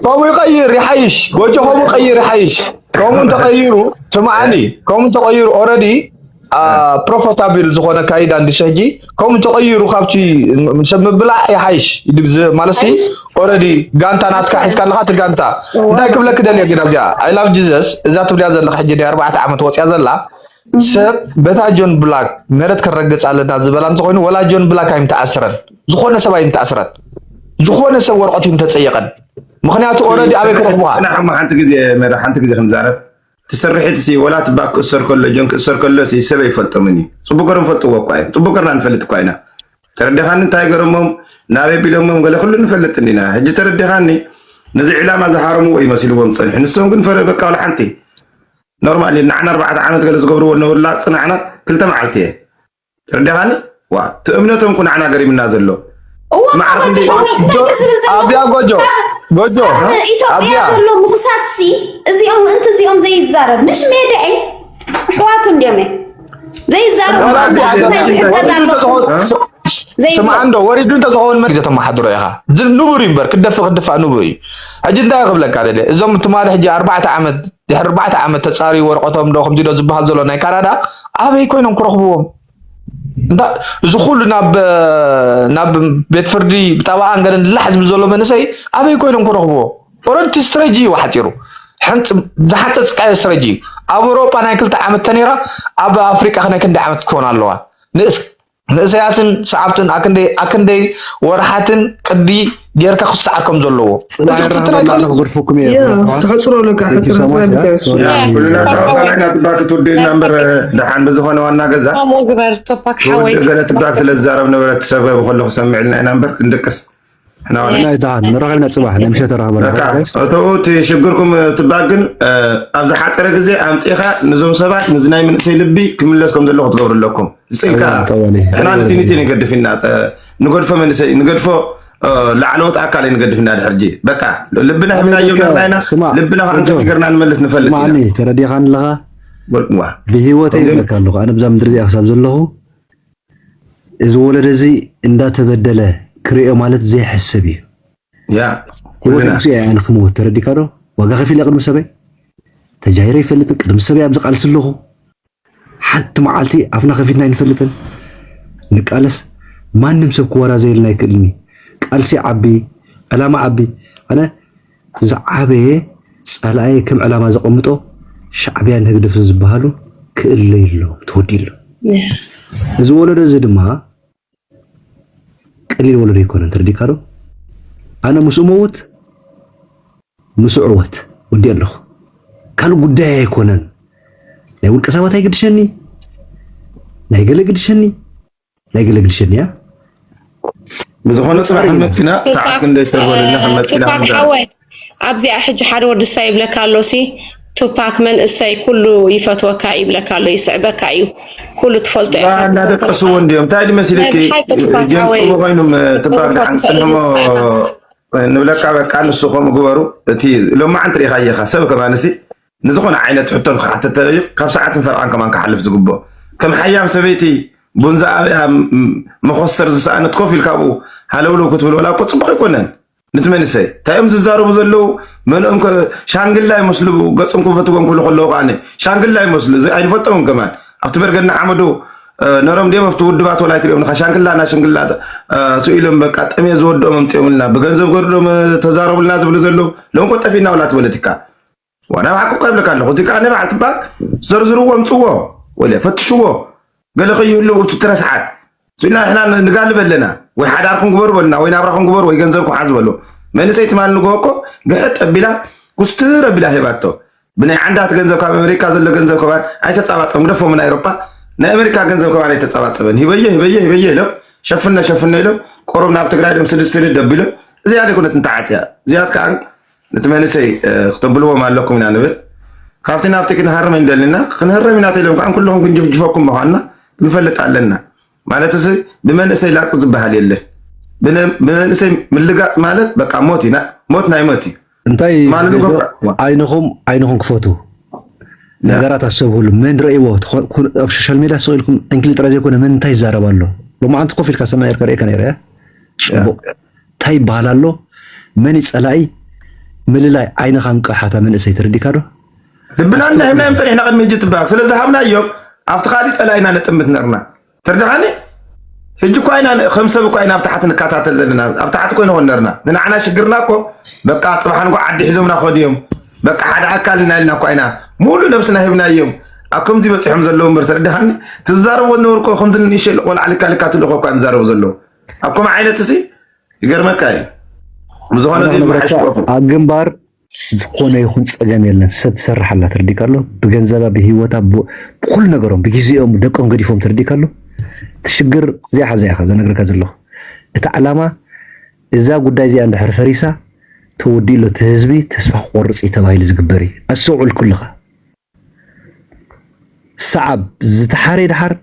ከምኡ ይቀይር ይሓይሽ ጎጆ ከምኡ ቀይር ይሓይሽ ከምኡ እንተቀይሩ ስምዓኒ ከምኡ እንተቀይሩ ኦረዲ ፕሮፈታብል ዝኾነ ካይዳ እንዲሰ ሕጂ ከምኡ ተቐይሩ ካብቲ ሰብ ምብላዕ ይሓይሽ ማለት ሲ ኦረዲ ጋንታ ናትካ ሒዝካ ኣለካ እቲ ጋንታ እንታይ ክብለክ ደልየ ግን ኣብዚኣ ኣይላቭ ጂዘስ እዛ ትብልያ ዘለካ ሕጂ ናይ ኣርባዕተ ዓመት ወፅያ ዘላ ሰብ በታ ጆን ብላክ መረት ክረግጽ ኣለና ዝበላ እንተኮይኑ ወላ ጆን ብላክ ኣይም ተኣስረን ዝኾነ ሰብ ኣይም ተኣስረን ዝኾነ ሰብ ወረቀት ይም ተጸየቀን ምክንያቱ ኦረዲ ኣበይ ክረክቡካ ሓንቲ ግዜ መረ ሓንቲ ግዜ ክንዛረብ ትስርሒት ሲ ወላ ትባክ ክእሰር ከሎ ጆን ክእሰር ከሎ ሲ ሰብ ይፈልጦምን እዩ ጽቡቅ ገሮም ፈልጥዎ እኳ እዮም ጽቡቅ ገርና ንፈልጥ እኳ ኢና ተረዲኻኒ እንታይ ገረሞም ናበይ ቢሎሞም ገለ ኩሉ ንፈልጥ እንዲና ሕጂ ተረዲኻኒ ነዚ ዕላማ ዝሃረምዎ እዩ መሲልዎም ጸኒሑ ንሶም ግን ፈረ በቃ ሓንቲ ኖርማል እዩ ንዓና ኣርባዕተ ዓመት ገለ ዝገብርዎ ዝነበሩላ ጽናዕና ክልተ መዓልቲ እየን ተረዲኻኒ ዋ እቲ እምነቶም እኮ ንዓና ገሪምና ዘሎ እዋ ማዕረ ወዲ ክንደይ እዋይ እንታይ እዩ ዝብል ዘሎ ኣብያ ጎጆ ጎጆ ኣብ ኢትዮጵያ ኣብያ ዘሎ ምኽሳስሲ እዚኦም ምእንቲ እዚኦም ዘይዛረብ ምሽ ሜዳ እዩ ኣሕዋቱ እንዲዮም እዮም ዘይዛረብ ስምዓ እንዶ ወሪዱ እንተዝኸውን መን ዘተመሓድሮ ኢኻ ንቡር እዩ እምበር ክደፍ ክድፋእ ንቡር እዩ ሕጂ እንታይ ክብለካ ደለ እዞም ትማሊ ሕጂ ኣርባዕተ ዓመት ድሕሪ ኣርባዕተ ዓመት ተፃርዩ ወረቀቶም ዶ ከምዚ ዶ ዝበሃል ዘሎ ናይ ካናዳ ኣበይ ኮይኖም ክረኽብዎም እዚ ኩሉ ናብ ናብ ቤት ፍርዲ ብጠበቓን ገለን ላሕ ዝብል ዘሎ መንእሰይ ኣበይ ኮይኖም ክረኽብዎ ኦረንቲ ስትረጂ እዩ ሓፂሩ ዝሓፀፅካዮ ስትረጂ እዩ ኣብ ኣውሮጳ ናይ ክልተ ዓመት ተነይራ ኣብ ኣፍሪቃ ክናይ ክንደይ ዓመት ክኾን ኣለዋ ንእሰያስን ሰዓብትን ኣክንደይ ወርሓትን ቅዲ ጌርካ ክሰዓር ከም ዘለዎ ግርፍኩም ተሕፅሮ ኣለካ ሕፅርናይና ትባክ ትውደልና እምበር ደሓን ብዝኾነ ዋና ገዛ ገለ ትባክ ስለ ዝዛረብ ነበረ ትሰበብ ከሎ ክሰምዕልና ኢና እምበር ክንድቅስ ናይ ድሃን ንረኺብና ፅባሕ ናይ ምሸት ረኸበና በቃ ኦኬ እተኡ እቲ ሽግርኩም ትባል ግን ኣብ ዝሓፀረ ግዜ ኣምፂእኻ ንዞም ሰባት ንዚ ናይ መንእሰይ ልቢ ክምለስ ከም ዘለዎ ክትገብሩ ኣለኩም ዝፅኢልካ ጠዋሊ ጠዋሊ ንሕና ጠዋሊ ንቲኒቲ ጠዋሊ ንገድፍ ኢና ጠ- ንገድፎ መንእሰይ ንገድፎ እ፣ ላዕለዎት ኣካል ንገድፍ ኢና ድሕር ጂ በቃ ልብና ኣነ ሂብናዮ በቃ ጌርና ኢና ስማዕ ልብና ከዓ እንተ ጆርጆ ጌርና ንመልስ ንፈልጥ ኢና ስማዕኒ ተረዲኻን ኣለኻ ዋ ብሂወተይ ከምዚ ይብለካ ኣለኹ ኣነ ብዛ ምድሪ እዚኣ ክሳብ ዘለኹ እዚ ወለዶ እዚ እንዳተበደለ ክሪኦ ማለት ዘይሕሰብ እዩ። ያ ሂወት ኩልና ንጉሴ ኣያ ንክመውት ተረዲካ ዶ ዋጋ ከፊለ ቅድሚ ሰበይ ተጃሂረ ኣይፈልጥን ቅድሚ ሰበይ ኣብዚ ቃልሲ ኣለኹ ሓንቲ መዓልቲ ኣፍና ከፊትና ኣይንፈልጥን ንቃለስ ማንም ሰብ ክወራዘየልና ኣይክእልኒ ቃልሲ ዓቢ ዕላማ ዓቢ ኣነ እቲ ዝዓበየ ጸላኣይ ከም ዕላማ ዘቐምጦ ሻዕብያን ህግደፍን ዝበሃሉ ክእለዩ ኣለዎም ተወዲኡ ኣሎ። እዚ ወለዶ እዚ ድማ ቀሊል ወለዶ ኣይኮነን ተረዲእካ ዶ? ኣነ ምስ እመውት ምስ እዕወት ወዲኤ ኣለኹ። ካልእ ጉዳየይ ኣይኮነን። ናይ ውልቀ ሰባት ኣይግድሸኒ ናይ ገለ ግድሸኒ። ናይ ግልግልሽን እያ ብዝኾነ ፅባሕ መፂና ሰዓት ክንደይ ሰበልና ከመፂና ሓወይ ኣብዚኣ ሕጂ ሓደ ወዲ ስታ ይብለካ ኣሎ ሲ ቱፓክ መንእሰይ ኩሉ ይፈትወካ ይብለካ ኣሎ ይስዕበካ እዩ ኩሉ ትፈልጦ ኢኻ እናደቀስዎ እንዲዮም እንታይ ድመሲልኪ ጀምፅዎ ኮይኑም ትባል ሓንፅንሞ ንብለካ በቃ ንሱ ከምኡ ግበሩ እቲ ሎማዓንቲ ሪኢኻ እየኻ ሰብ ከማንሲ ንዝኾነ ዓይነት ሕቶ ንክሓትት ተለልዩ ካብ ሰዓትን ፈረቓን ከማን ክሓልፍ ዝግብኦ ከም ሓያም ሰበይቲ ቡን ዝኣበያ መኾስተር ዝሰኣነት ኮፍ ኢልካ ኣብኡ ሃለውለው ክትብል ወላ እኮ ጽቡቕ ኣይኮነን ንቲ መንሰይ እንታይ እዮም ዝዛረቡ ዘለው መንኦም ከ ሻንግላ ይመስሉ ገጽም ክፈትዎም ክብሉ ከለዉ ከዓኒ ሻንግላ ይመስሉ እዚ ኣይንፈልጦምን ከማን ኣብቲ በርገና ሓመዱ ነሮም ድዮም ኣብቲ ውድባት ወላ ኣይትሪኦም ኢኻ ሻንግላ ና ሽንግላ ስኢሎም በቃ ጠምየ ዝወድኦም ኣምፅኦምልና ብገንዘብ ገርዶም ተዛረቡልና ዝብሉ ዘለው ሎምኮ ጠፊእና ወላ ትበለቲካ ዋላ ባዕኩ ቀብልካ ኣለኹ እዚ ከዓ ንባዕል ትባል ዘርዝርዎ ምፅዎ ወለ ፈትሽዎ ገለ ከይህሉ እቲ ትረስሓት ስና ንሕና ንጋልብ ኣለና ወይ ሓዳርኩም ግበሩ በሉና ወይ ናብራኹም ግበሩ ወይ ገንዘብኩም ሓዝ በሉ መንእሰይ ትማል ንግሆ እኮ ግሕጥ ኣቢላ ኩስትር ኣቢላ ሂባቶ ብናይ ዓንዳት ገንዘብ ካብ ኣሜሪካ ዘሎ ገንዘብ ከባን ኣይተፃባፀም ግደፎ ምና ኤሮፓ ናይ ኣሜሪካ ገንዘብ ከባን ኣይተፃባፀበን ሂበየ ሂበየ ሂበየ ኢሎም ሸፍነ ሸፍነ ኢሎም ቆሮብ ናብ ትግራይ ዶም ስድስት ስድድ ኣቢሎም እዚኣ ደይኮነት እንተዓፅያ እዚኣት ከዓ ነቲ መንእሰይ ክተብልዎም ኣለኩም ኢና ንብል ካብቲ ናብቲ ክንሃርም እንደልና ክንህረም ኢና ተኢሎም ከዓ ኩልኹም ክንጅፍጅፈኩም ምኳንና ክንፈልጥ ኣለና ማለት እዚ ብመንእሰይ ላፅ ዝበሃል የለን ብመንእሰይ ምልጋፅ ማለት በቃ ሞት እዩ ሞት ናይ ሞት እዩ እንታይ ዓይንኹም ዓይንኹም ክፈቱ ነገራት ኣሰብህሉ መን ረእይዎ ኣብ ሶሻል ሜድያ ስቕ ኢልኩም ዕንክሊ ጥራይ ዘይኮነ መን እንታይ ይዛረብ ኣሎ ሎማዓንቲ ኮፍ ኢልካ ሰማይ እርካ ርእካ ነረ ፅቡቅ እንታይ ይበሃል ኣሎ መን ፀላኢ ምልላይ ዓይንኻ እንቅሓታ መንእሰይ ተረዲካ ዶ ድብላና ሂብናዮም ፀኒሕና ቅድሚ ህጂ ትበሃል ስለ ዝሃብናዮም ኣብቲ ካሊእ ፀላኢና ነጥምት ነርና ተርድኻኒ ህጂ እኳ ኢና ከም ሰብ እኳ ኢና ኣብ ታሕቲ ንከታተል ዘለና ኣብ ታሕቲ ኮይነ ኮን ነርና ንንዓና ሽግርና እኮ በቃ ፅባሕ ንጓ ዓዲ ሒዞምና ከዱ እዮም በቃ ሓደ ኣካል ኢና ኢልና እኳ ኢና ሙሉእ ነብስና ሂብናዮም ኣብ ከምዚ በፂሖም ዘለዉ ምበር ተረድኻኒ ትዛረቦ ዝነበርኮ ከምዚ ንእሸ ቆልዓ ልካ ልካ ትልእኮ እኳ እዮም ዛረቡ ዘለዉ ኣብ ከምኡ ዓይነት እዚ ይገርመካ እዩ ብዝኾነ ኣብ ግንባር ዝኾነ ይኹን ፀገም የለን ሰብ ትሰርሕ ኣላ ትርዲካ ኣሎ ብገንዘባ ብሂወታ ብኩሉ ነገሮም ብግዜኦም ደቆም ገዲፎም ትርዲካ ኣሎ ትሽግር እዚኣ ሓዛ ኢኻ ዘነግረካ ዘለኹ እቲ ዓላማ እዛ ጉዳይ እዚኣ እንድሕር ፈሪሳ ተወዲእሎ እቲ ህዝቢ ተስፋ ክቆርፅ እዩ ተባሂሉ ዝግበር እዩ ኣስተውዕል ኩልኻ ሰዓብ ዝተሓሬ ደሓር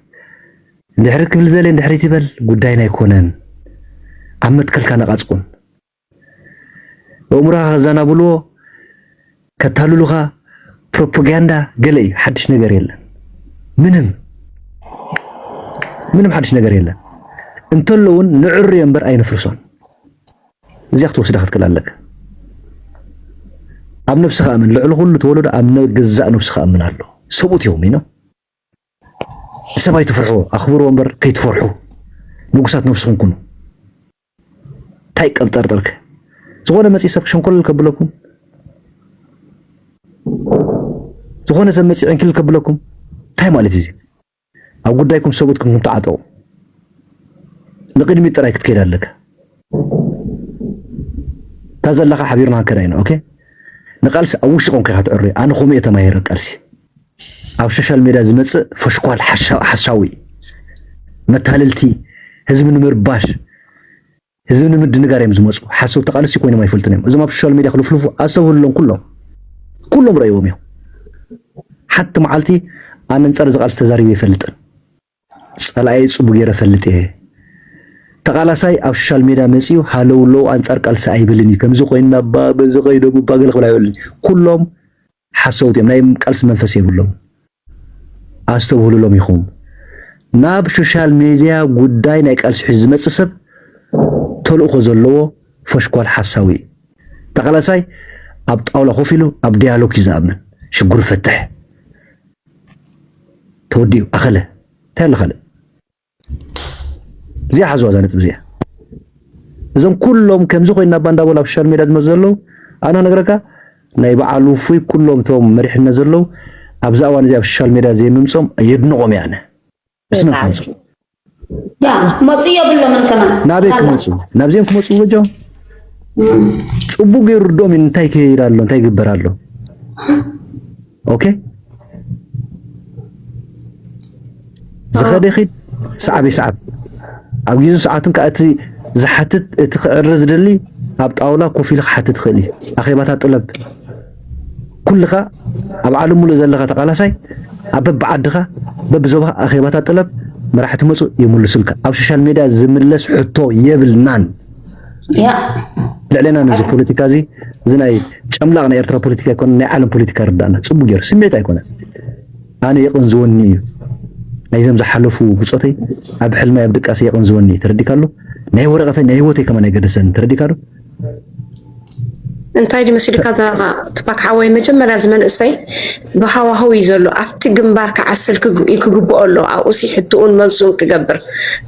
ድሕሪ ክብል ዘሌ ድሕሪት ይበል ጉዳይና ኣይኮነን ኣብ መትከልካ ነቓጽቁን ኣእምሮኻ ከዛናብልዎ ከታልሉኻ ፕሮፓጋንዳ ገለ እዩ ሓድሽ ነገር የለን ምንም ምንም ሓድሽ ነገር የለን እንተለውን ንዕርዮ እምበር ኣይንፍርሶን እዚኣ ክትወስዳ ክትክል ኣለካ። ኣብ ነብስኻ እመን ልዕሊ ኩሉ ተወለዶ ኣብ ገዛእ ነብስኻ እመን ኣሎ ሰብኡት እዮም ይኖ ንሰብ ኣይትፍርሕዎ ኣኽብርዎ እምበር ከይትፈርሑ ንጉሳት ነብስኹም ኩኑ እንታይ ቀብጠርጠርከ ዝኾነ መፂ ሰብ ሸንኮል ከብለኩም ዝኾነ ሰብ መፂ ዕንክል ከብለኩም እንታይ ማለት እዩ ኣብ ጉዳይኩም ሰብኡት ኩንኩም ተዓጠቁ ንቅድሚት ጥራይ ክትከይድ ኣለካ እታ ዘለካ ሓቢርና ክንከዳ ኢና ኦኬ ንቃልሲ ኣብ ውሽጢ ቆንካ ኢካ ትዕርዮ ኣነ ከምኡ እየ ተማሂረ ቃልሲ ኣብ ሶሻል ሜድያ ዝመጽእ ፈሽኳል ሓሳዊ መታለልቲ ህዝቢ ንምርባሽ ህዝቢ ንምድንጋር እዮም ዝመጹ ሓሰውቲ ተቃለስቲ ኮይኖም ኣይፈልጡን እዮም እዞም ኣብ ሶሻል ሜድያ ክልፍልፉ ኣስተብህሉሎም ኩሎም ኩሎም ረእዎም እዮም ሓንቲ መዓልቲ ኣነንጸር እዚ ቃልሲ ተዛሪበ ይፈልጥን ጸላኣየ ጽቡ ገይረ ፈልጥ እየ ተቃላሳይ ኣብ ሶሻል ሜድያ መጺኡ ሃለውለው ኣንጻር ቃልሲ ኣይብልን እዩ ከምዚ ኮይና ባ በዚ ከይዶም ባ ገለ ክብል ኣይብልን ኩሎም ሓሰውቲ እዮም ናይ ቃልሲ መንፈስ የብሎምን ኣስተብህሉሎም ኢኹም ናብ ሾሻል ሜድያ ጉዳይ ናይ ቃልሲ ሒዙ ዝመጽእ ሰብ ተልእኾ ዘለዎ ፎሽኳል ሓሳዊ እዩ ተቓላሳይ ኣብ ጣውላ ኮፍ ኢሉ ኣብ ዲያሎግ እዩ ዝኣምን ሽጉር ፈትሕ ተወዲኡ ኣኸለ እንታይ ኣሎ ካልእ እዚኣ ሓዝዋ እዛ ነጥቢ እዚኣ እዞም ኩሎም ከምዚ ኮይና እባ እንዳበሉ ኣብ ሶሻል ሜድያ ዝመፁ ዘለዉ ኣነ ክነግረካ ናይ በዓል ውፉይ ኩሎም እቶም መሪሕነት ዘለዉ ኣብዛ እዋን እዚ ኣብ ሶሻል ሜድያ ዘይምምፆም የድንቖም እየ ኣነ እስመን ክመፁ ክመፁ የብሎምን ከማ ናበይ ክመፁ ናብዚኦም ክመፁ በጃም ፅቡቅ ገይሩ ርድኦም እንታይ ይከይድ ኣሎ እንታይ ይግበር ኣሎ ኦኬ ዝኸደ ይኺድ ሰዓብ ይሰዓብ ኣብ ግዜን ሰዓትን ከዓ እቲ ዝሓትት እቲ ክዕረ ዝደሊ ኣብ ጣውላ ኮፍ ኢሉ ክሓትት ይኽእል እዩ ኣኼባታት ጥለብ ኩልኻ ኣብ ዓለም ሙሉእ ዘለኻ ተቃላሳይ ኣብ በብዓድኻ በብዞባኻ ኣኼባታት ጥለብ መራሕቲ መፁ ይምልሱልካ ኣብ ሶሻል ሜድያ ዝምለስ ሕቶ የብልናን ልዕሌና ነዚ ፖለቲካ እዚ እዚ ናይ ጨምላቕ ናይ ኤርትራ ፖለቲካ ይኮነ ናይ ዓለም ፖለቲካ ርዳእና ፅቡቅ ገይሩ ስሜት ኣይኮነን ኣነ የቕንዝወኒ እዩ ናይዞም ዝሓለፉ ብፆተይ ኣብ ሕልማይ ኣብ ድቃሰ የቕንዝወኒ ተረዲካሉ ናይ ወረቐተይ ናይ ህይወተይ ከማን ኣይገደሰኒ ተረዲካሉ እንታይ ድዩ መሲልካ እዛ ትፓክ ሓወይ መጀመርያ እዚ መንእሰይ ብሃዋህው እዩ ዘሎ ኣብቲ ግንባር ክዓስል ክግብኦ ኣሎ ኣብኡ ሲ ሕትኡን መልሱን ክገብር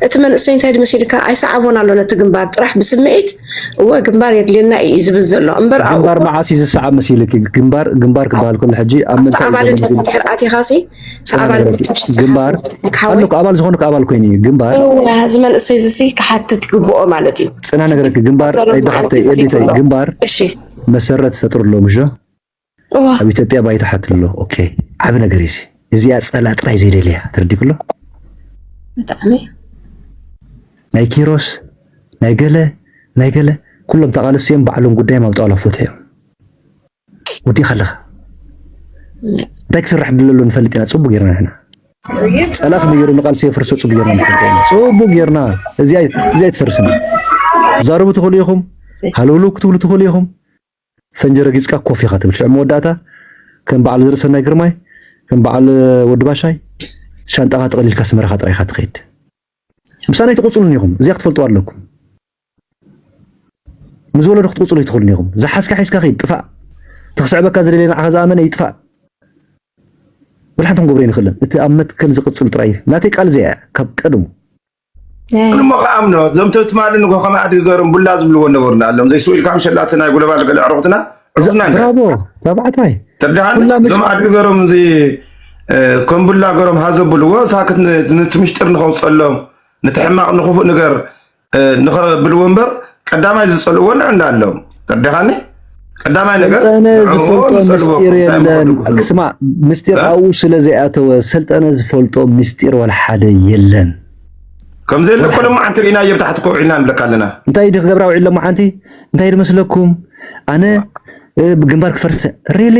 እቲ መንእሰይ እንታይ ድዩ መሲልካ ኣይሰዓቦን ኣሎ ነቲ ግንባር ጥራሕ ብስምዒት እወ ግንባር የድልየና እዩ ዝብል ዘሎ እምበር ግንባር መዓስ እዩ ዝሰዓብ መሲልኪ ግንባር ግንባር ክበሃል ከሎ ሕጂ ኣብ ምንታይ ኣባልነት ድሕር ኣቲኻ ሲ ኣባል ግንባር ኣለኩ ኣባል ዝኾንኩ ኣባል ኮይኑ እዩ ግንባር እዚ መንእሰይ እዚ ክሓትት ይግብኦ ማለት እዩ ፅና ነገረኪ ግንባር ኣይዳሓፍተይ ኤዲተይ ግንባር መሰረት ፈጥሩ ኣሎ ምሾ ኣብ ኢትዮጵያ ባይታ ሓት ኣሎ ኦኬ ዓብ ነገር እዩ እዚኣ ፀላ ጥራይ ዘይደልያ ተረዲክሎ ብጣዕሚ ናይ ኪሮስ ናይ ገለ ናይ ገለ ኩሎም ተቓለስቲ እዮም ባዕሎም ጉዳዮም ኣብ ጣውላ ፈትሑ እዮም ወዲእካ ኣለካ እንታይ ክስራሕ ድለሎ ንፈልጥ ኢና ጽቡቅ ጌርና ንሕና ጸላ ከመይ ገይሩ ንቃልሲ የፍርሶ ጽቡቅ ጌርና ንፈልጥ ኢና ጽቡቅ ጌርና እዚኣ እዚኣ ትፈርስና ትዛረቡ ትኽእሉ ኢኹም ሃለውለው ክትብሉ ትኽእሉ ኢኹም ፈንጂ ረጊጽካ ኮፍ ኢኻ ትብል ሽዕ መወዳእታ ከም በዓል ዘርእሰናይ ግርማይ ከም በዓል ወዲ ባሻይ ሻንጣኻ ጠቕሊልካ ስመራኻ ጥራይካ ትኸይድ ምሳና ኣይትቕጽሉን ኢኹም እዚኣ ክትፈልጡ ኣለኩም ምስ ወለዶ ክትቅጽሉ ኣይትኽእሉን ኢኹም። ዝሓዝካ ሒዝካ ኪድ ጥፋእ። እቲ ክስዕበካ ዝደልየ ንዓኻ ዝኣመነ ይጥፋእ። ወላ ሓንቲ ክንገብሮ ኣይንኽእልን። እቲ ኣብ መትከል ዝቅጽል ጥራይ እዩ። ናተይ ቃል እዚኣ እያ ካብ ቀድሙ። ኣነ እሞ ክኣምኖ እዞም ትማሊ ንጎ ከም ኣድጊ ገሮም ቡላ ዝብልዎ ነበሩ እንዳኣሎም ዘይስኡ ኢልካ ምሸላቲ ናይ ጉለባል ገለ ኣዕሩኽትና ዕሩኽትና ብራቮ ታባዕታይ ተርዳሃኒ እዞም ኣድጊ ገሮም እዚ ከም ቡላ ገሮም ሃዘብልዎ ሳክት ንቲ ምሽጢር ንኸውፀሎም ንቲ ሕማቕ ንክፉእ ንገር ንኸብልዎ እምበር ቀዳማይ ዝፀልእዎ ንዕና ኣሎም ተርዲኻኒ ቀዳማይ ነገር ሰልጠነ ዝፈልጦ ምስጢር የለን ክስማ ምስጢር ኣብኡ ስለ ዘይኣተወ ሰልጠነ ዝፈልጦ ምስጢር ዋላ ሓደ የለን ከምዘ የለ ኮሎ መዓንቲ ርኢና እየ ብታሕቲ ኮውዒልና ንብለካ ኣለና እንታይ ዲ ክገብራ ውዒሎ መዓንቲ እንታይ ድመስለኩም ኣነ ግንባር ክፈርሰ ሪሊ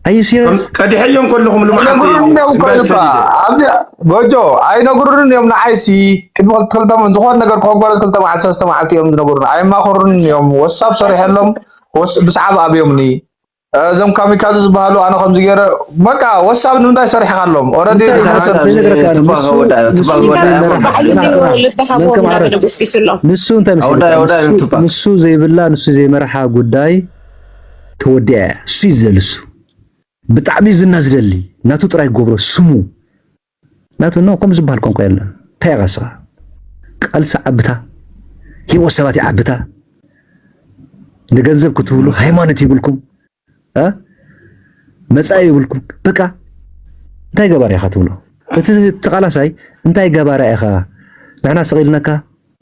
ኣዩ ሲሪየስ ቀዲሐዮም ከለኹም ጎጆ ኣይነግሩን እዮም ንዓይሲ ቅድሚ ክልተ ዝኾነ ነገር ኮንኮረ ክልተ መዓልቲ ሰለስተ መዓልቲ እዮም ዝነገሩን ኣየማኸሩን እዮም ወሳብ ሰሪሐሎም ብሰዓብ ኣብዮምኒ እዞም ካሚካዚ ዝበሃሉ ኣነ ከምዚ ገይረ በቃ ወሳብ ንምንታይ ሰሪሕካሎም ኦረዲ ንሱ ዘይብላ ንሱ ዘይመርሓ ጉዳይ ተወዲያ እያ እሱ ይዘልሱ ብጣዕሚ ዝና ዝደሊ ናቱ ጥራይ ጎብሮ ስሙ ናቱ ን ከምኡ ዝብሃል ቋንቋ የለን ታይ ኢኻ እስኻ ቃልሲ ዓብታ ሂወት ሰባት ይዓብታ ንገንዘብ ክትብሉ ሃይማኖት ይብልኩም እ መጻኢ ይብልኩም በቃ እንታይ ገባር ኢኻ ትብሎ እቲ ተቃላሳይ እንታይ ገባራ ኢኻ ንሕና ስቂልነካ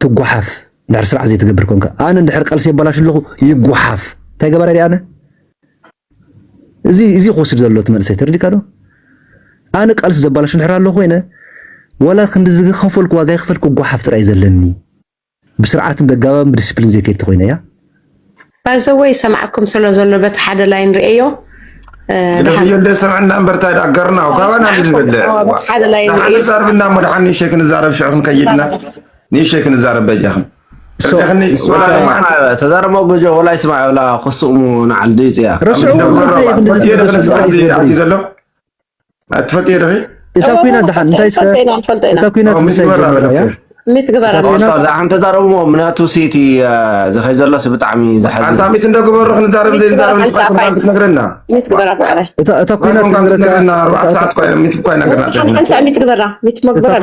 ትጓሓፍ እንድሕር ስርዓት ዘይትገብር ኮንካ ኣነ እንድሕር ቀልሲ የባላሽ ኣለኹ ይጓሓፍ እንታይ ገባር ኣነ እዚ እዚ ክወስድ ዘሎ እቲ መንእሰይ ተረዲእካ ዶ? ኣነ ቃልሲ ዘባላሹ እንድሕር ኣሎ ኮይነ ዋላ ክንዲ ዝኸፈልኩ ዋጋ ይኽፈል ክጓሓፍ ጥራይ እዩ ዘለኒ ብስርዓትን በጋባብን ብዲሲፕሊን ዘይከይድ ተኾይነ እያ። ባይ ዘ ወይ ይሰምዓኩም ስለ ዘሎ በቲ ሓደ ላይን ርእየዮ ስለዘየለ ስምዕና እምበር እንታይ ደኣ ገርናው ካባና ዝደለ ሓደ ላይን ርእየዮ ንሓንዛርብና እሞ ደሓን ንእሸይ ክንዛረብ ሽዑ ክንከይድና ንእሸይ ክንዛረብ በጃኹም ተዛረብ መጎጆ ወላይ ስማዕ ብላ ክስሙ ንዓል ድዩ ፅያ ዘሎ ትፈልጥ ዲኺ እታ ኩና ድሓን እንታይ እታ ኩና ሚት ግበራ ሓን ተዛረብዎ ምክንያቱ ሲቲ ዘኸይ ዘሎስ ብጣዕሚ ዝሓዝን ኣንታ ሚት እንደግበሩ ክንዛረብ ዘይንዛረብ ንስኻ ክትነግረና ሚት ግበራ ብዕራይ እታ ኩናት ክንረክበና ኣርባዕተ ሰዓት ኮይነ ሚት እኳ ነገርና ሓምሳ ሚት ግበራ ሚት መግበራ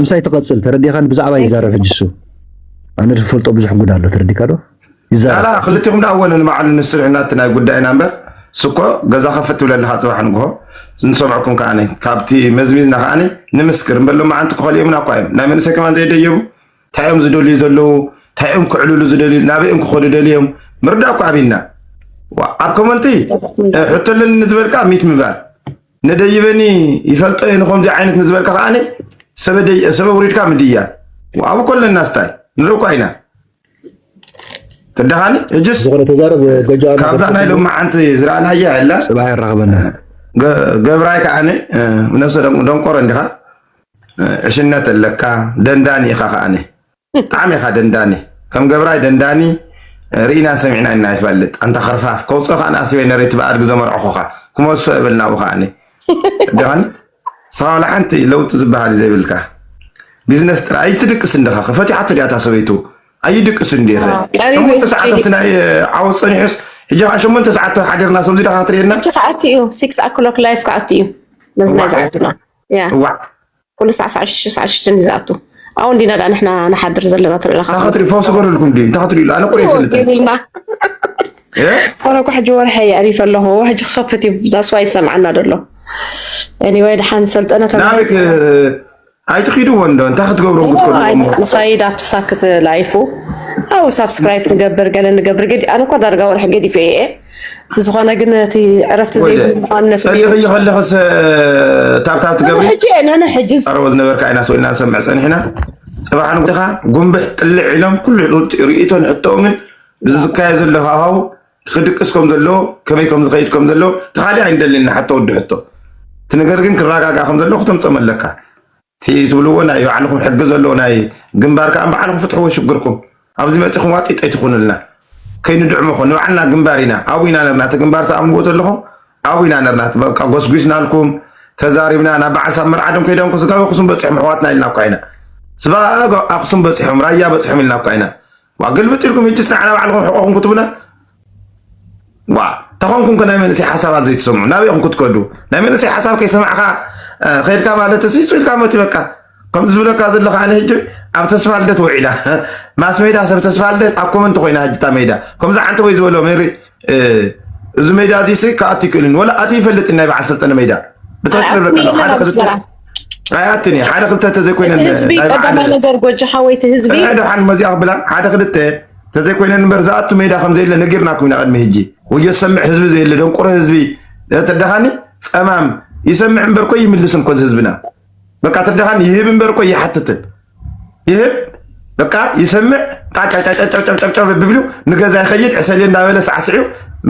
ምሳይ ትቐፅል ተረዲኻን ብዛዕባ ይዛረብ ሕጂ እሱ ኣነ ዝፈልጦ ብዙሕ ጉድ ኣሎ ተረዲካ ዶ ይዛላ ክልቲኹም ዳ ወነ ንባዕሉ ንስርዕና እቲ ናይ ጉዳይና እምበር ስኮ ገዛ ከፍት ትብለልካ ፅባሕ ንግሆ ንሰምዐኩም ከዓ ካብቲ መዝሚዝና ከዓ ንምስክር እምበሎም መዓንቲ ክኸልኦምና እኳ እዮም ናይ መንእሰይ ከማን ዘየደየቡ እንታይ እዮም ዝደልዩ ዘለዉ እንታይ እዮም ክዕልሉ ዝደልዩ ናበይ እዮም ክኸዱ ደልዮም ምርዳእ እኳ ኣብና ኣብ ኮመንቲ ሕቶ ኣለኒ ንዝበልካ ሚት ምባል ነደይበኒ ይፈልጦ እየ ንከምዚ ዓይነት ንዝበልካ ከዓ ሰበ ውሪድካ ምድያ ኣብኡ ኮለና ስታይ ንርኢ እኳ ኢና ተዳኻኒ እጅስ ካብዛ ናይ ሎሚ ሓንቲ ዝረኣናያ የላ ገብራይ ከዓ ነብሰ ደንቆሮ እንዲኻ ዕሽነት ኣለካ ደንዳኒ ኢካ ከኣነ ብጣዕሚ ኢካ ደንዳኒ ከም ገብራይ ደንዳኒ ርኢናን ሰሚዕናን ኢና ይፈልጥ ኣንታ ከርፋፍ ከውፅእ ከኣ ኣስበይ ነረይቲ ብኣድጊ ዘመርዕኹካ ክመልሶ እብል ናብኡ ከኣኒ ደን ንስኻ ዋላ ሓንቲ ለውጢ ዝበሃል እዩ ዘይብልካ ቢዝነስ ጥራይ ኣይትድቅስ እንዲኻ ከፈቲሓቶ ዲኣ እታ ሰበይቱ ኣይድቅስ እንዲኸ ሸሞንተ ሰዓት ኣብቲ ናይ ዓወት ፀኒሑስ ሕጂ ከዓ ሸሞንተ ሰዓት ሓዲርና ሰብዚ ዳኻ ትርእየና ክኣቱ እዩ ሲክስ ኣክሎክ ላይፍ ክኣቱ እዩ መዝናይ ዝኣቱና እዋዕ ኩሉ ሳዕ ሳዕ ሽሽ ሳዕ ሽሽን እዩ ዝኣቱ ኣብኡ እንዲና ዳ ንሕና ንሓድር ዘለና ትርእለካ እንታይ ክትሪኡ ፈውሲ ገርልኩም ድዩ እንታይ ክትሪኡ ኣነ ቁርእ ይፈልጠን ገርልና ኮነ እኮ ሕጂ ወርሐ የዕሪፈ ኣለኹ ሕጂ ክኸፍት እዩ ዛስዋ ይሰምዓና ደሎ ኤኒወይ ድሓን ሰልጠነ ናበይክ ኣይትኺድዎ እንዶ እንታይ ክትገብሩ ንኸይድ ኣብቲ ሳክት ላይፉ ኣው ሳብስክራይብ ንገብር ገለ ንገብር ገዲ ኣነ እኳ ዳርጋ ወርሒ ገዲፈ እየ ብዝኾነ ግን እቲ ዕረፍቲ ዘይብሉነት ፀኒሑ ከለኽስ ታብታብ ትገብሪ ቀረቦ ዝነበርካ ኢና ስኢልና ንሰምዕ ፀኒሕና ፅባሕ ንግኻ ጉንብሕ ጥልዕ ኢሎም ኩሉ ርእቶን ሕቶኦምን ብዝካየ ዘሎ ሃዋው ክድቅስ ከም ዘለዎ ከመይ ከም ዝኸይድ ከም ዘለዎ ተኻሊ ኣይንደልን ንሓቶ ወዲ ሕቶ እቲ ነገር ግን ክረጋጋእ ከም ዘለዎ ክተምፀም ኣለካ እቲ ትብልዎ ናይ ባዕልኹም ሕጊ ዘለዎ ናይ ግንባር ከኣ ባዕልኹም ፍትሕዎ ሽግርኩም። ኣብዚ መጺኹም ዋጢጥ ኣይትኹኑልና። ከይንድዕመኹም ንባዕልና ግንባር ኢና ኣብኡ ኢና ነርና እቲ ግንባር ትኣምንዎ ዘለኹም ኣብኡ ኢና ነርና እቲ በቃ ጎስጒስናልኩም ተዛሪብና ናብ በዓል ሳብ መርዓ ድዮም ከይዶም ስጋብ ኣኽሱም በጺሖም ኣሕዋትና ኢልና እኳ ኢና ስባኣብ ኣኽሱም በጺሖም ራያ በጺሖም ኢልና እኳ ኢና ዋ ግልብጥ ኢልኩም ህጅስ ንዓና ባዕልኹም ሕቆኹም ክትብሉና ዋ ተኾንኩም ከ ናይ መንእሰይ ሓሳባት ዘይትሰምዑ ናበይ ኢኹም ክትከዱ ናይ መንእሰይ ሓሳብ ከይሰማዕካ ከድካ ማለት ሲ ኢልካ መት በቃ ከምዚ ዝብለካ ዘለካ ኣነ ሕጂ ኣብ ተስፋ ልደት ውዒላ ማስ ሜዳ ሰብ ተስፋ ልደት ኣብ ኮመንቲ ኮይና ሕጅታ ሜዳ ከምዚ ዓንተ ወይ ዝበሎ ሜሪ እዚ ሜዳ እዚ ሲ ክኣቱ ይክእልን ወላ ኣቲ ይፈልጥን ናይ በዓል ሰልጠነ ሜዳ ኣያትን ሓደ ክልተ ተዘይኮይነንቀዳማይ ነገር ጎጃ ሓወይቲ ህዝቢ ደሓን መዚኣ ክብላ ሓደ ክልተ ተዘይኮይነን እምበር ዝኣቱ ሜዳ ከምዘየለ ነጊርና ኩና ቅድሚ ህጂ ወዮ ዝሰምዕ ህዝቢ ዘየለ ደንቁሮ ህዝቢ ተደኻኒ ፀማም ይሰምዕ እምበር ኮይ ይምልስን ኮዚ ህዝብና በቃ ትደሃን ይህብ እምበር እኮ ይሓትትን ይህብ በቃ ይሰምዕ ጣጫጫጫጫጫጫጫ ብብሉ ንገዛ ይኸይድ ዕሰሌ እንዳበለ ሳዕስዒው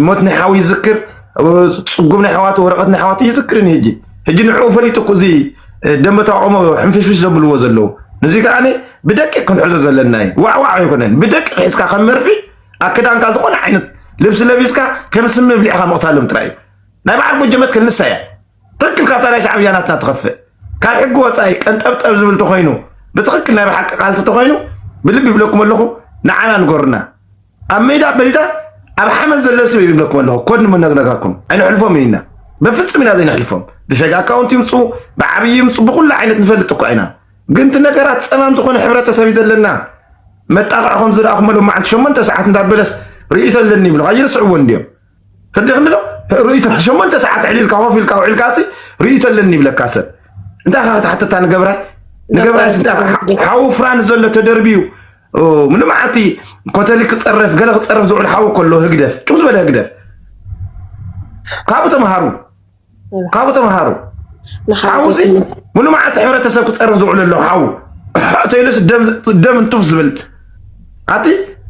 ሞት ናይ ሓዊ ይዝክር ፅጉም ናይ ሕዋቱ ወረቐት ናይ ሕዋቱ ይዝክርን ህጂ ህጂ ንዕኡ ፈሊጡ እኮ እዚ ደንበ ተቃውሞ ሕንፍሽፍሽ ዘብልዎ ዘለዉ እዚ ከዓ ብደቂቅ ክንሕዞ ዘለና እዩ ዋዕዋዕ ኣይኮነን ብደቂቅ ሒዝካ ከም መርፊ ኣክዳንካ ዝኾነ ዓይነት ልብሲ ለቢስካ ከም ስም ብሊዕካ ምቕታሎም ጥራይ እዩ ናይ በዓል ጎጀ መትከል ንሳ እያ ትክክል ካብታ ናይ ሻዕብያ ናትና ትኸፍእ ካብ ሕጊ ወፃኢ ቀንጠብጠብ ዝብል ተኮይኑ ብትክክል ናይ ብሓቂ ቃልቲ ተኮይኑ ብልቢ ይብለኩም ኣለኹ ንዓና ንገሩና ኣብ ሜዳ በይዳ ኣብ ሓመድ ዘሎ ስብ ይብለኩም ኣለኹ ኮድ ንምነግነጋኩም ኣይንሕልፎም ኢና በፍፅም ኢና ዘይንሕልፎም ብሸግ ኣካውንት ይምፁ ብዓብይ ይምፁ ብኩሉ ዓይነት ንፈልጥ እኳ ኢና ግን እቲ ነገራት ፀማም ዝኾነ ሕብረተሰብ እዩ ዘለና መጣቕዕ ከም ዝረኣኹመሎም መዓልቲ ሸሞንተ ሰዓት እንዳበለስ ርእይቶ ኣለኒ ይብሉ ኣይርስዕዎ እንዲዮም ተደኺም ዶ ርእቶ ሸሞንተ ሰዓት ዕሊልካ ኮፍ ኢልካ ውዒልካ ሲ ርእቶ ኣለኒ ይብለካ ሰብ እንታይ ካ ክትሓተታ ንገብራይ ንገብራይ ሓዊ ፍራን ዘሎ ተደርብዩ ንመዓልቲ ኮተሊ ክፀረፍ ገለ ክፀረፍ ዝውዕል ሓዊ ከሎ ህግደፍ ጭው ዝበለ ህግደፍ ካብኡ ተምሃሩ ካብኡ ተምሃሩ። ሓው እዚ ሙሉ መዓልቲ ሕብረተሰብ ክፀርፍ ዝውዕሉ ኣሎ ሓው ተይሉስ ደም እንቱፍ ዝብል ኣቲ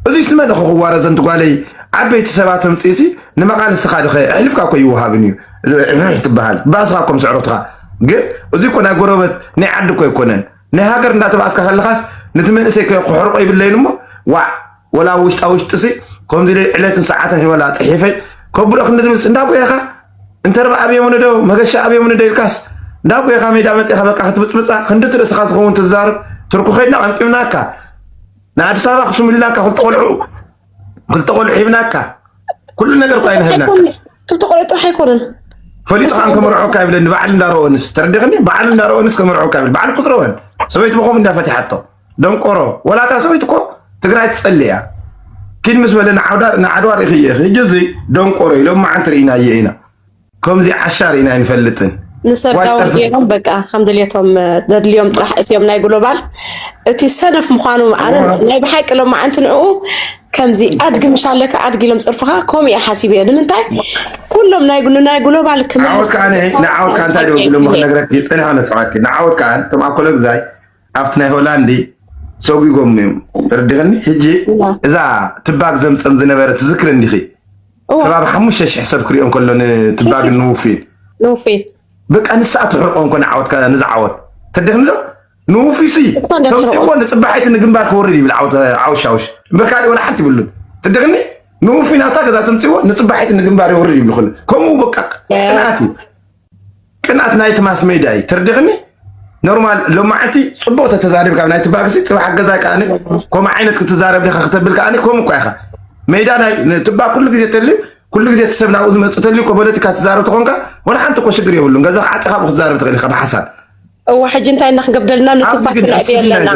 እዚስ ንመን ኹ ክዋረ ዘንቲ ጓለይ ዓበይቲ ሰባት ምፅኢሲ ንመቃልስትኻ ድኸ ኣሕልፍካ እኮ ይውሃብን እዩ ትበሃል ባስኻ እኮ ምስዕሮትኻ ግን እዚ እኮ ናይ ጎረበት ናይ ዓዲ እኮ ኣይኮነን ናይ ሃገር እንዳተባኣስካ ከለኻስ ነቲ መንእሰይ ክሕርቆ ይብለይን እሞ ዋዕ ወላ ውሽጣ ውሽጥሲ ከምዚ ኢለ ዕለትን ሰዓትን ወላ ፅሒፈ ከብሎ ክንዲ ዝብልስ እንዳ ጎየኻ እንተርባ ኣብዮም ንዶ መገሻ ኣብዮም ንዶ ኢልካስ እንዳ ጎየኻ ሜዳ መፅኻ በቃ ክትብፅብፃ ክንዲ እቲ ርእስኻ ዝኸውን ትዛርብ ትርኩ ከድና ቀምቂምናካ ንኣዲስ ኣበባ ክስምሉላካ ክልተ ቆልዑ ክልተ ቆልዑ ሂብናካ ኩሉ ነገር እኳ ይንህብናካ ክልተ ቆልዑ ጥራሕ ኣይኮነን ፈሊጥኻ ከመርዖካ ይብለኒ በዓል እንዳረኦንስ ተረዲኽኒ በዓል እንዳረኦንስ ከመርዖካ ይብል በዓል ቁፅረወን ሰበይቲ ብኸም እንዳፈትሓቶ ደንቆሮ ወላታ ሰበይቲ እኮ ትግራይ ትፀሊ እያ ኪድ ምስ በለ ንዓድዋ ርኢኽየ ሕጂ እዚ ደንቆሮ ኢሎም መዓንቲ ርኢናየ ኢና ከምዚ ዓሻ ርኢና ኣይንፈልጥን። ንሰርዳዊ ገይሮም በቃ ከም ድልየቶም ዘድልዮም ጥራሕ እትዮም ናይ ግሎባል እቲ ሰነፍ ምዃኑ ኣነ ናይ ብሓቂ ሎም መዓንቲ ንዕኡ ከምዚ ኣድጊ ምሻለካ ኣድጊ ኢሎም ፅርፍኻ ከምኡ እየ ሓሲብ እየ ንምንታይ ኩሎም ናይ ናይ ግሎባል ክምዓወት ከዓ ንዓወት ከዓ እንታይ ደው ዝብሎ ክነግረኪ ፅንሐ መስማዕኪ ንዓወት ከዓ እቶም ኣኮለግዛይ ኣብቲ ናይ ሆላንዲ ሰጒጎም እዮም ተረዲኽኒ ሕጂ እዛ ትባግ ዘምፀም ዝነበረ ትዝክር እንዲኺ ከባቢ ሓሙሽተ ሽሕ ሰብ ክሪኦ እንከሎ ንትባግን ንውፌ ንውፌ በቃ ንስኣ ትሕርቆ እንኮ ንዓወት ነዚ ዓወት ተደክምዶ ንውፊሲ ተውፅእዎ ንፅባሒቲ ንግንባር ክወርድ ይብል ዓወት ዓውሻውሽ እምበር ካልእ ወላ ሓንቲ ይብሉን ትደክኒ ንውፊ ናብታ ገዛ ተምፅእዎ ንፅባሒቲ ንግንባር ይወርድ ይብል ክሉ ከምኡ በቃ ቅንኣት እዩ ቅንኣት ናይቲ ማስ ሜድያ እዩ ትርድኽኒ ኖርማል ሎማዓንቲ ፅቡቅ ተተዛሪብ ካብ ናይቲ ባክሲ ፅባሕ ገዛ ከዓ ከምኡ ዓይነት ክትዛረብ ዲካ ክተብል ከዓ ከምኡ እኳ ኢካ ሜዳ ትባ ኩሉ ግዜ ተልዩ ኩሉ ግዜ እቲ ሰብ ናብኡ ዝመፅእ ተልዩ ፖለቲካ ትዛረብ ተኮንካ ወላ ሓንቲ እኮ ሽግር የብሉን ገዛ ክዓፅኻ ክትዛረብ ትኽእል ኢካ ብሓሳብ እዋ ሕጂ እንታይ እና ክንገብደልና ንቱፓክ ክንዕብዮ ኣለና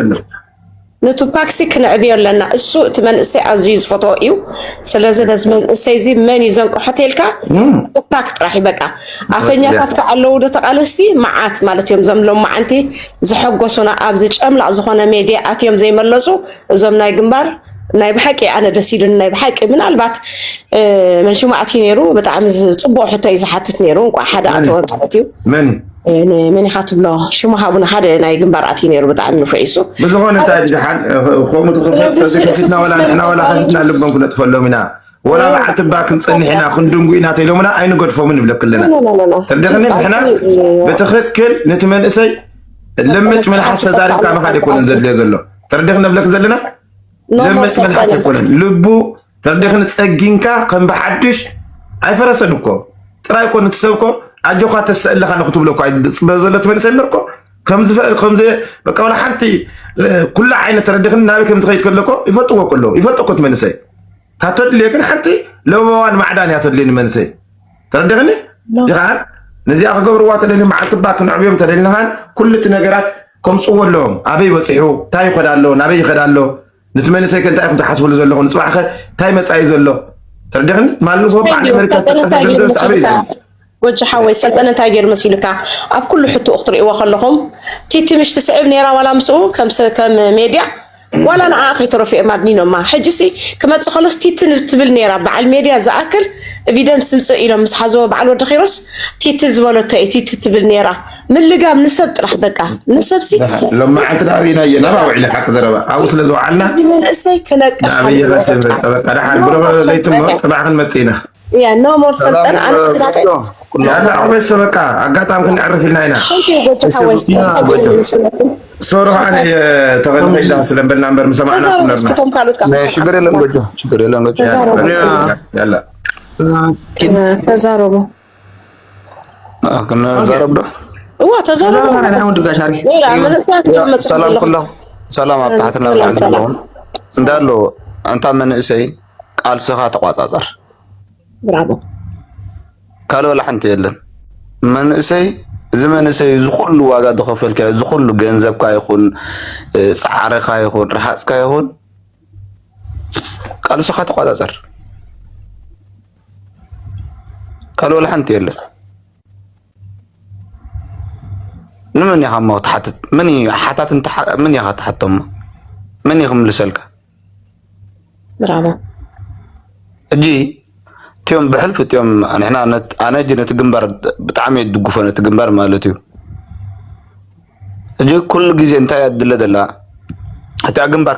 ንቱፓክ ሲ ክንዕብዮ ኣለና እሱ እቲ መንእሰይ ኣዝዩ ዝፈትዎ እዩ ስለዚ ነዚ መንእሰይ እዚ መን እዩ ዘንቅሖ ተልካ ቱፓክ ጥራሕ እዩ በቃ ኣፈኛታት ከዓ ኣለዉ ዶ ተቃለስቲ መዓት ማለት እዮም እዞም ሎም መዓንቲ ዝሐጎሱና ኣብዚ ጨምላቅ ዝኾነ ሜድያ ኣትዮም ዘይመለሱ እዞም ናይ ግንባር ናይ ብሓቂ ኣነ ደስ ኢሉኒ ናይ ብሓቂ ምናልባት መንሽሙ ኣትዩ ነይሩ ብጣዕሚ ፅቡቅ ሕቶ እዩ ዝሓትት ነይሩ እንቋዕ ሓደ ኣተወ ማለት እዩ ንመን ኢካ ትብሎ ሽሙ ሃቡኒ ሓደ ናይ ግንባር ኣትዩ ነይሩ ብጣዕሚ ንፉዕ ይሱ ብዝኾነ እንታይ ድሓን ከምኡ ትኽፈት እዚ ከፊትና ወላ ንሕና ወላ ከፊትና ልቦም ክነጥፈሎም ኢና ወላ በዓል ትባ ክንፀንሕ ኢና ክንድንጉ ኢና ተኢሎምና ኣይንገድፎምን ንብለክ ኣለና ትርድኽኒ ንሕና ብትኽክል ነቲ መንእሰይ ልምጭ መልሓስ ተዛሪብካ ምኻድ ኣይኮነን ዘድልዮ ዘሎ ትርድኽ ንብለክ ዘለና ልምጭ መልሓስ ኣይኮነን ልቡ ተሪኽን ፀጊንካ ከም ብሓዱሽ ኣይፈረሰን እኮ ጥራይ እኮ ንትሰብ እኮ ኣጆካ ተሰ ኣለካ ዶ ክትብሎ እኮ ፅበ ዘሎ ትመልሰኒ እኮ በቃ ዋላ ሓንቲ ኩሉ ዓይነት ተረዲኽኒ ናበይ ከም ዝኸይድ ከለኮ ይፈጥዎ እኮ ኣለዎ ይፈጥ እኮ ትመንሰይ እታ ተድልዮ ግን ሓንቲ ለበዋን ማዕዳን እያ ተድልዮ ንመንሰይ ተረዲኽኒ ድኻን ነዚኣ ክገብርዋ ተደሊ መዓልቲ ባ ክንዕብዮም ተደሊኻን ኩሉ እቲ ነገራት ከምፅዎ ኣለዎም ኣበይ በፂሑ እንታይ ይኸዳ ኣሎ ናበይ ይኸዳ ኣሎ ነቲ መንእሰይ ከ እንታይ ኢኹም ትሓስብሉ ዘለኹም ንፅባሕ ከ እንታይ መፃኢ ዘሎ ተረዲኽኒ ማሉ ባዕሊ ኣመሪካ ዝተጠፈ ገንዘብ ዝሰዕበ እዩ ጎጂ ሓወይ ሰልጠነ እንታይ ገይሩ መሲሉካ ኣብ ኩሉ ሕቱኡ ክትርእይዎ ከለኹም ቲትምሽ ትስዕብ ነይራ ዋላ ምስኡ ከም ሜድያ ዋላ ንዓ ከይተረፉ እዮም ኣድኒኖማ ሕጂሲ ክመፅእ ከሎስ ቲትን ትብል ነይራ በዓል ሜድያ ዝኣክል ቪደንስ ምፅእ ኢሎም ምስ ሓዘዎ በዓል ወዲ ኪሮስ ቲቲ ዝበለቶ እዩ ቲቲ ትብል ነይራ ምልጋብ ንሰብ ጥራሕ በቃ ንሰብ ሲ ሎማዓንቲ ናብ ኢና እየ ናብ ኣውዒለ ሓቂ ዘረባ ኣብኡ ስለ ዝውዓልና መንእሰይ ክነቅሕ ናበየ ረሲብ ጠበቃ ድሓን ብረበ ዘይትሞ ፅባሕ ክንመፅእ ኢና እያ ኖ ሞር ሰልጠን ኣነኩላዕበሽ ሰበቃ ኣጋጣሚ ክንዕርፍ ኢልና ኢና ሶሪ ከዓነ ተቐድመ ኢላ ስለ በልና እምበር ምሰማዕና ኩለርና ሽግር የለን ጎጆ ሽግር የለን ጎጆ ተዛረቡ ክነዛረብ ዶ እዋ ተዛረብ ሰላም ኩሎም ሰላም ኣብ ታሕቲ ናብ ላዕሊ ዘለዎም እንዳሎ ኣንታ መንእሰይ ቃልስኻ ተቋፃፀር ብራቦ ካልእ ወላ ሓንቲ የለን መንእሰይ እዚ መንእሰይ እዚ ኩሉ ዋጋ ዝኸፈልካዮ እዚ ኩሉ ገንዘብካ ይኹን ፃዕርኻ ይኹን ረሃፅካ ይኹን ቃልስኻ ተቋፃፀር ካልእ ወላ ሓንቲ የለን። ንመን ኢኻ እሞ ክትሓትት? መን እዩ ሓታት እንተ መን ኢኻ ትሓቶ እሞ መን እዩ ክምልሰልካ? ብራቦ ሕጂ እትኦም ብሕልፊ እትኦም ንሕና ኣነ ሕጂ ነቲ ግንባር ብጣዕሚ እየ ዝድግፎ ነቲ ግንባር ማለት እዩ። ሕጂ ኩሉ ግዜ እንታይ እያ ትድለ ዘላ እታ ግንባር